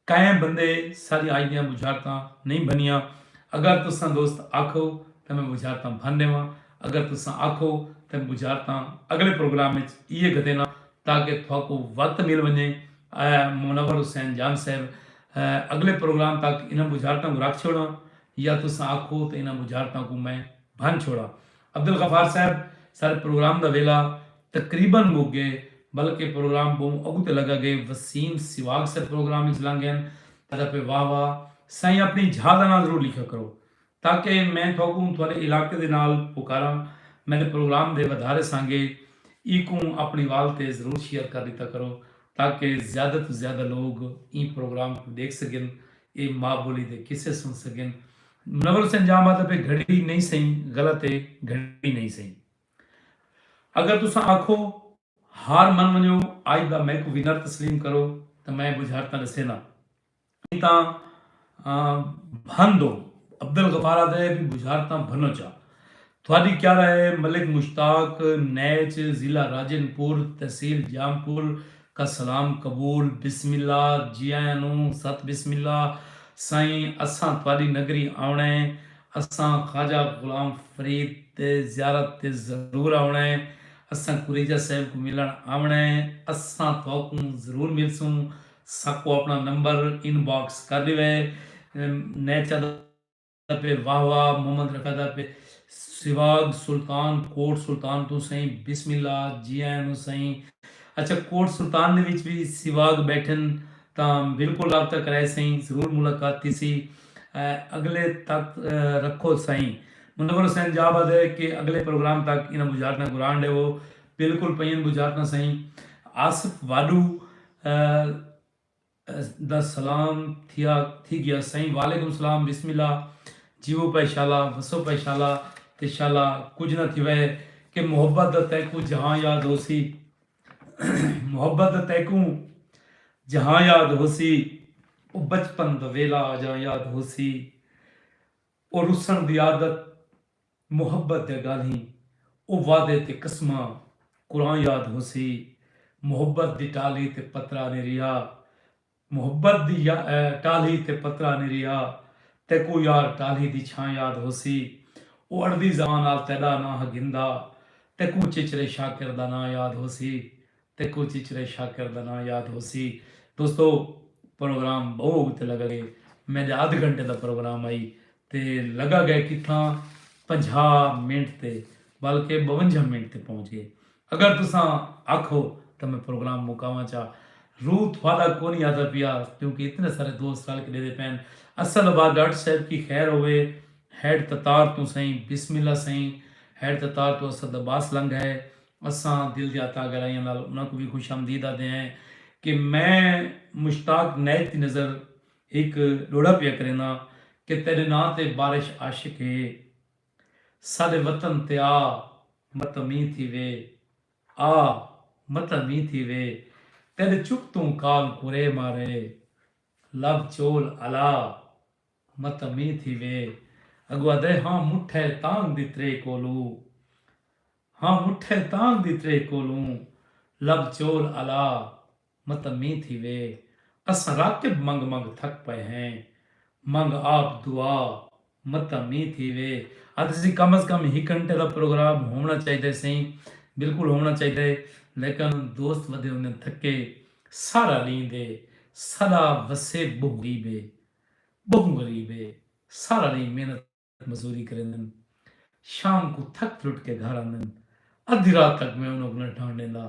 کئیں بندے ساڈی آج دیاں بجھارتاں نہیں بھنیاں اگر تساں دوست آکھو تاں میں بجھارتاں بھن ڈیواں اگر تساں آکھو تاں بجھارتاں اگلے پروگرام وچ ایہ گھدیناں تاکہ تھاکوں وت مل ونجے آیا منور حسین جان صاحب اگلے پروگرام تک انہاں بجھارتاں کوں رکھ چھوڑاں یا تساں آکھو تاں انہاں بجھارتاں کوں میں بھن چھوڑاں۔ عبدالغفار صاحب سارے پروگرام دا ویلھا تقریبا مک گئے بلکہ پروگرام بہوں اگوں تے لگا گئے وسیم سواگ سر پروگرام اچ لنگ گئن ادا پے واہ واہ سائیں اپنی جھا دا ناں ضرور لکھیا کرو تاکہ میں تھوکوں تھوڈے علاقے دے نال پکاراں میڈے پروگرام دے ودھارے سانگے ایکوں اپنی وال تے ضرور شیئر کر ڈیتا کرو تاکہ زیادہ توں زیادہ لوگ ایں پروگرام کوں ڈیکھ سگن اے ماء بولی دے قصے سن سگن نول سنجھ آ مطلب ہے گھڑی نئیں سئیں غلط ہے گھڑی نئیں سئیں اگر تساں آکھو ہار من ونجو آج دا میکوں ونر تسلیم کرو تاں میں بجھارتاں ڈسینداں ایں تاں بھن دو عبدالغفارا دے بجھارتاں بھنو چا تھاڈی کیا رائے ہے ملک مشتاق نیچ ضلع راجن پور تحصیل جام پور کا سلام قبول بسم اللہ جی آیاں نوں ست بسم اللہ سائیں اساں تھاڈی نگری آونڑ ہے اساں خواجہ غلام فرید دے زیارت تے ضرور آونڑ ہے اساں کریجہ صاحب کوں ملنڑ آونڑ ہے اساں تھاکوں ضرور ملسوں ساکوں اپنڑاں نمبر ان باکس کر ڈیوے نیچ دا دا پے واہ واہ محمد رکھا دا پے سواگ سلطان کوٹ سلطان توں سئیں بسم اللہ جی آیاں نو سئیں اچھا کوٹ سلطان دے وچ وی سواگ بیٹھن تاں بالکل رابطہ کرائے سئیں ضرور ملاقات تھیسی اگلے تک رکھو سئیں منور حسین جا باد ہے کہ اگلے پروگرام تک انہاں بجارتاں گران ڈیوو بالکل پئین بجارتاں سئیں آصف واڈو۔ دا سلام تھیا تھی گیا سائیں وعلیکم سلام بسم اللہ جیوو پے شالا وسو پے شالا تے شالا کجھ نہ تھیوے کہ محبت دا تیکوں جہاں یاد ہوسی محبت دا تیکوں جہاں یاد ہوسی او بچپن دا ویلا آجاں یاد ہوسی او رسن دی عادت محبت دیاں گالھیں او وعدے تے قسماں قرآں یاد ہوسی محبت دی ٹالھی تے پترا نیں رہیا محبت دی ٹالھی تے پترا نیں رہیا تیکوں یار ٹالھی دی چھاں یاد ہوسی او اڑدی زبان نال تیڈا ناں ہا گھندا تیکوں چچرے شاکر دا ناں یاد ہوسی تیکوں چچرے شاکر دا ناں یاد ہوسی۔ دوستو پروگرام بہوں اگتے لگا گئے۔ میڈے ادھ گھنٹے دا پروگرام ہئی تے لگا گئے کتھاں پنجھا منٹ تے بلکہ بونجھا منٹ تے پہنچ گئے۔ اگر تساں آکھو تاں میں پروگرام مکاواں چا۔ روح تھوڑا کونی آتا پیا کیونکہ اتنے سارے دوست رل کے ڈیدے پین۔ اصل آباد ڈاکٹر صاحب کی خیر ہوئے۔ ہیڈ تتار توں سئیں بسم اللہ سئیں۔ ہیڈ تتار توں اسد عباس لنگھ ہے۔ اساں دل دیاں تاں گہرائیاں نال انہاں کوں وی خوش آمدید آہدے ہیں کہ میں مشتاق نائیک دی نظر ہک ڈوہڑا پیا کرینداں کہ تیڈے ناں تے بارش عاشق ہے ساڈے وطن تے آ متاں مینہ تھیوے آ متاں مینہ تھیوے تیڈے چک توں کال کورے مارے لب چول الا متاں مینہ تھیوے اگو آہدے ہاں مٹھے تانگ دی ترے کولو ہاں مٹھے تانگ دی ترے کولوں لب چول الا متمی تھی وے اساں راکب منگ منگ تھک پئے ہیں منگ آپ دعا متمی تھی وے آدھے سی کم از کم ہک گھنٹے دا پروگرام ہوونا چاہیدے سئیں بالکل ہوونا چاہیدے لیکن دوست ودے ہوندے تھکے سارا لیں دے سلا وسیب بہوں غیب ہے بہوں غریب ہے سارا لیں محنت مزوری کریندن۔ شام کوں تھک ترٹ کے گھر آندن۔ ادھی رات تک میں انہاں کوں نہ ڈھانڈ ڈیندا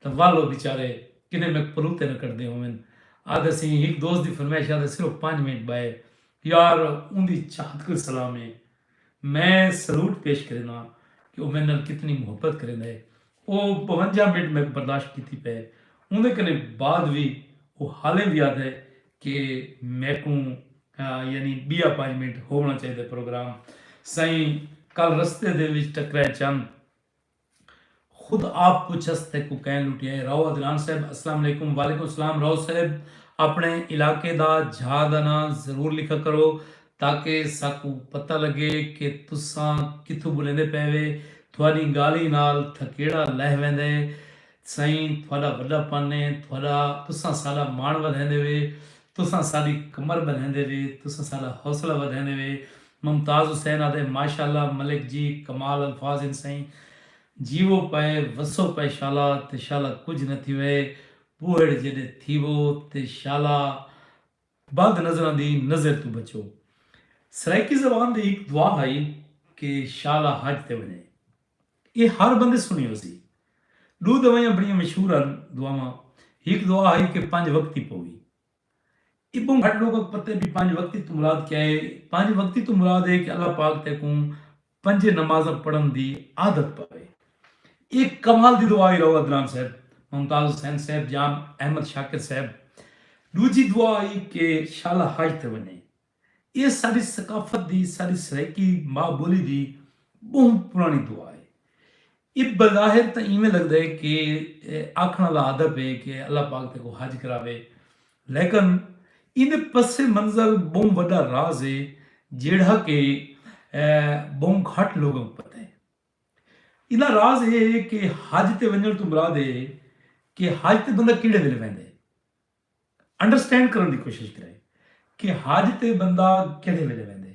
تاں ول او بیچارے کنے میک پروتے نہ کڈھدے ہوون۔ آہدے سئیں ہک دوست دی فرمائش آہدے صرف پنج منٹ بائے۔ یار اوندی چاہت کوں سلام ہے۔ میں سلوٹ پیش کرینداں کہ او میڈے نال کتنی محبت کریندا ہے۔ او بونجا منٹ میکوں برداشت کیتی پئے ہے۔ اوندے کنے بعد وی او حالیں وی آہدا ہے کہ میکوں یعنی بیا پنج منٹ ہوونا چاہیدا پروگرام۔ سئیں کل رستے دے وچ ٹکرائے چن۔ خود آپ پچھس تیکوں کئیں لٹیا ہے راؤ عدنان صاحب السلام علیکم۔ وعلیکم السلام راؤ صاحب اپنڑے علاقے دا جھا دا ناں ضرور لکھا کرو تاکہ ساکوں پتہ لگے کہ تساں کتھوں بولیندے پئے وے، تہاڈی گالھیں نال تھکیڑا لہہ ویندے سئیں، تہاڈا وڈا پن اے، تہاڈا تساں ساڈا مان ودھیندے وے، تساں ساڈی کمر بندھیندے وے، تساں ساڈا حوصلہ ودھیندے وے، ممتاز حسین آدھے ماشاءاللہ ملک جی کمال الفاظ ہن سئیں، جیوو پئے وسو پئے شالا تے شالا کجھ نہ تھیوئے، بوہڑ جیڈے تھیوو تے شالا بد نظراں دی نظر توں بچو۔ سرائیکی زبان دی ہک دعا ہئی کہ شالا حج تے ونڄے۔ ایہ ہر بندے سݨی ہوسی۔ ݙو دوائیاں بݨیاں مشہور ہن دعاواں۔ ہک دعا ہئی کہ پنج وقتی پووی۔ ابوں گھٹ لوکاں کوں پتہ ہے بھئی پنج وقتی توں مراد کیا ہے۔ پنج وقتی توں مراد ہے کہ اللہ پاک تیکوں پنجے نمازاں پڑھن دی عادت پوے۔ اے کمال دی دعا ہی راؤ عدنان صاحب، ممتاز حسین صاحب جان احمد شاکر صاحب۔ ڈوجھی دعا ہی کہ شالا حج تے ونجے۔ اے ساڈی ثقافت دی، ساڈی سرائیکی ماء بولی دی بہوں پرانی دعا ہے۔ اے بظاہر تاں ایویں لگدا ہے کہ آکھݨ آلا ادب ہے کہ اللہ پاک تیکوں حج کراوے لیکن ایندے پس منظر ٻہوں وݙا راز ہے جیڑھا کہ ٻہوں گھٹ لوکاں کوں پتہ ہے۔ ایندا راز اے ہے کہ حج تے ونڄݨ توں مراد اے ہے کہ حج تے بندہ کیڑھے ویلے ویندے۔ انڈرسٹینڈ کرݨ دی کوشش کرے کہ حج تے بندہ کیڑھے ویلے ویندے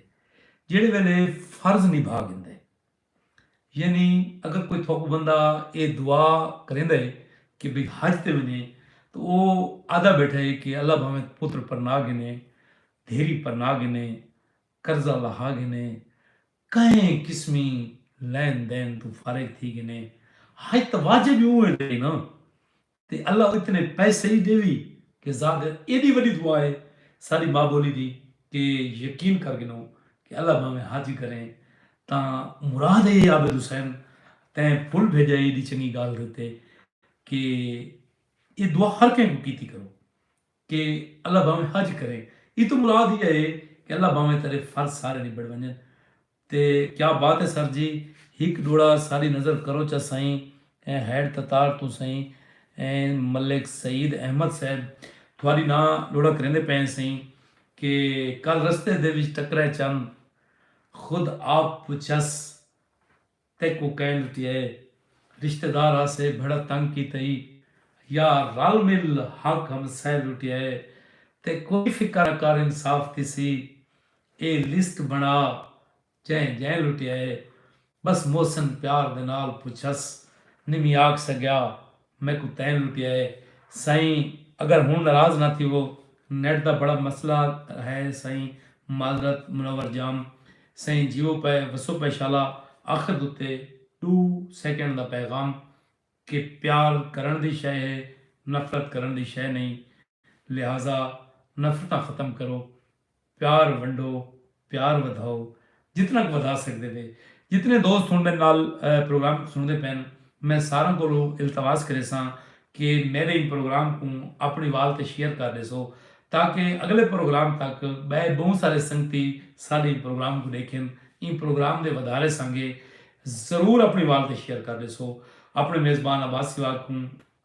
جیڑھے ویلے فرض نبھا گھندے یعنی اگر کوئی تھوکوں بندہ اے دعا کریندا ہے کہ بھئی حج تے ونجے تو او آدا بیٹھا ہے کہ اللہ بھاویں پتر پرنا گھنے دھیری پرنا گھنے قرضہ لہا گھنے کہیں قسمی لین دین توں فارغ تھی گھنے حج تاں واجب ہی اوں ویلے ہے نا تے اللہ اتنے پیسے ای ڈیوی کہ زاد ایڈی وڈی دعا اے ساڈی ماں بولی دی کہ یقین کر گھنو کہ اللہ بھاویں حاجی کرے تاں مراد اے عابد حسین تیں پھل بھیجا ایڈی چنگی گالھ کیتے کہ اے دعا ہر کہیں کوں کیتی کرو کہ اللہ بھاویں حج کرے ای توں مراد ای اے کہ اللہ بھاویں تیڈے فرض سارے نبڑ ونجن تے کیا بات ہے سر جی ہک ڈوڑا ساری نظر کرو چا سائیں ایں ہیڈ تتار توں سائیں ایں ملک سعید احمد صاحب تھواری ناں ڈوڑا کریندے پئیں سائیں کہ کل رستے دے وچ ٹکرے چن خود آپ پچھس تیکوں کئیں لٹیا ہے۔ رشتہ دار آسے بھڑا تنگ کیتا ای۔ یا رل مل حق ہمسائے لٹیا ہے۔ تے کوئی فکر نہ کر انصاف تھیسی۔ اے لسٹ بنڑا جئیں جئیں لٹیا ہے۔ بس محسن پیار دے نال پچھس نی می آکھ سگیا۔ میکوں تین لٹیا ہے سائیں اگر ہن ناراض نہ تھیوو نیٹ دا بڑا مسئلہ ہے سائیں معذرت منور جام سائیں جیو پئے وسو پئے شالا آخر دتے ڈو سیکنڈ دا پیغام کہ پیار کرن دی شئے ہے نفرت کرن دی شئے نہیں لہذا نفرتاں ختم کرو، پیار ونڈو، پیار ودھاؤ، جتنا ک ودھا سکدے پے۔ جتنے دوست ہن میڈے نال پروگرام کوں سنڑدے پن میں ساراں کولوں التماس کریساں کہ میڈے ایں پروگرام کوں اپنڑی وال تے شیئر کر ڈیسو تاکہ اگلے پروگرام تک بئے بہوں سارے سنگتی ساڈے ایں پروگرام کوں ڈیکھن۔ ایں پروگرام دے ودھارے سانگے ضرور اپنڑی وال تے شیئر کر ڈیسو۔ اپنڑے میزبان عباس سواگ کوں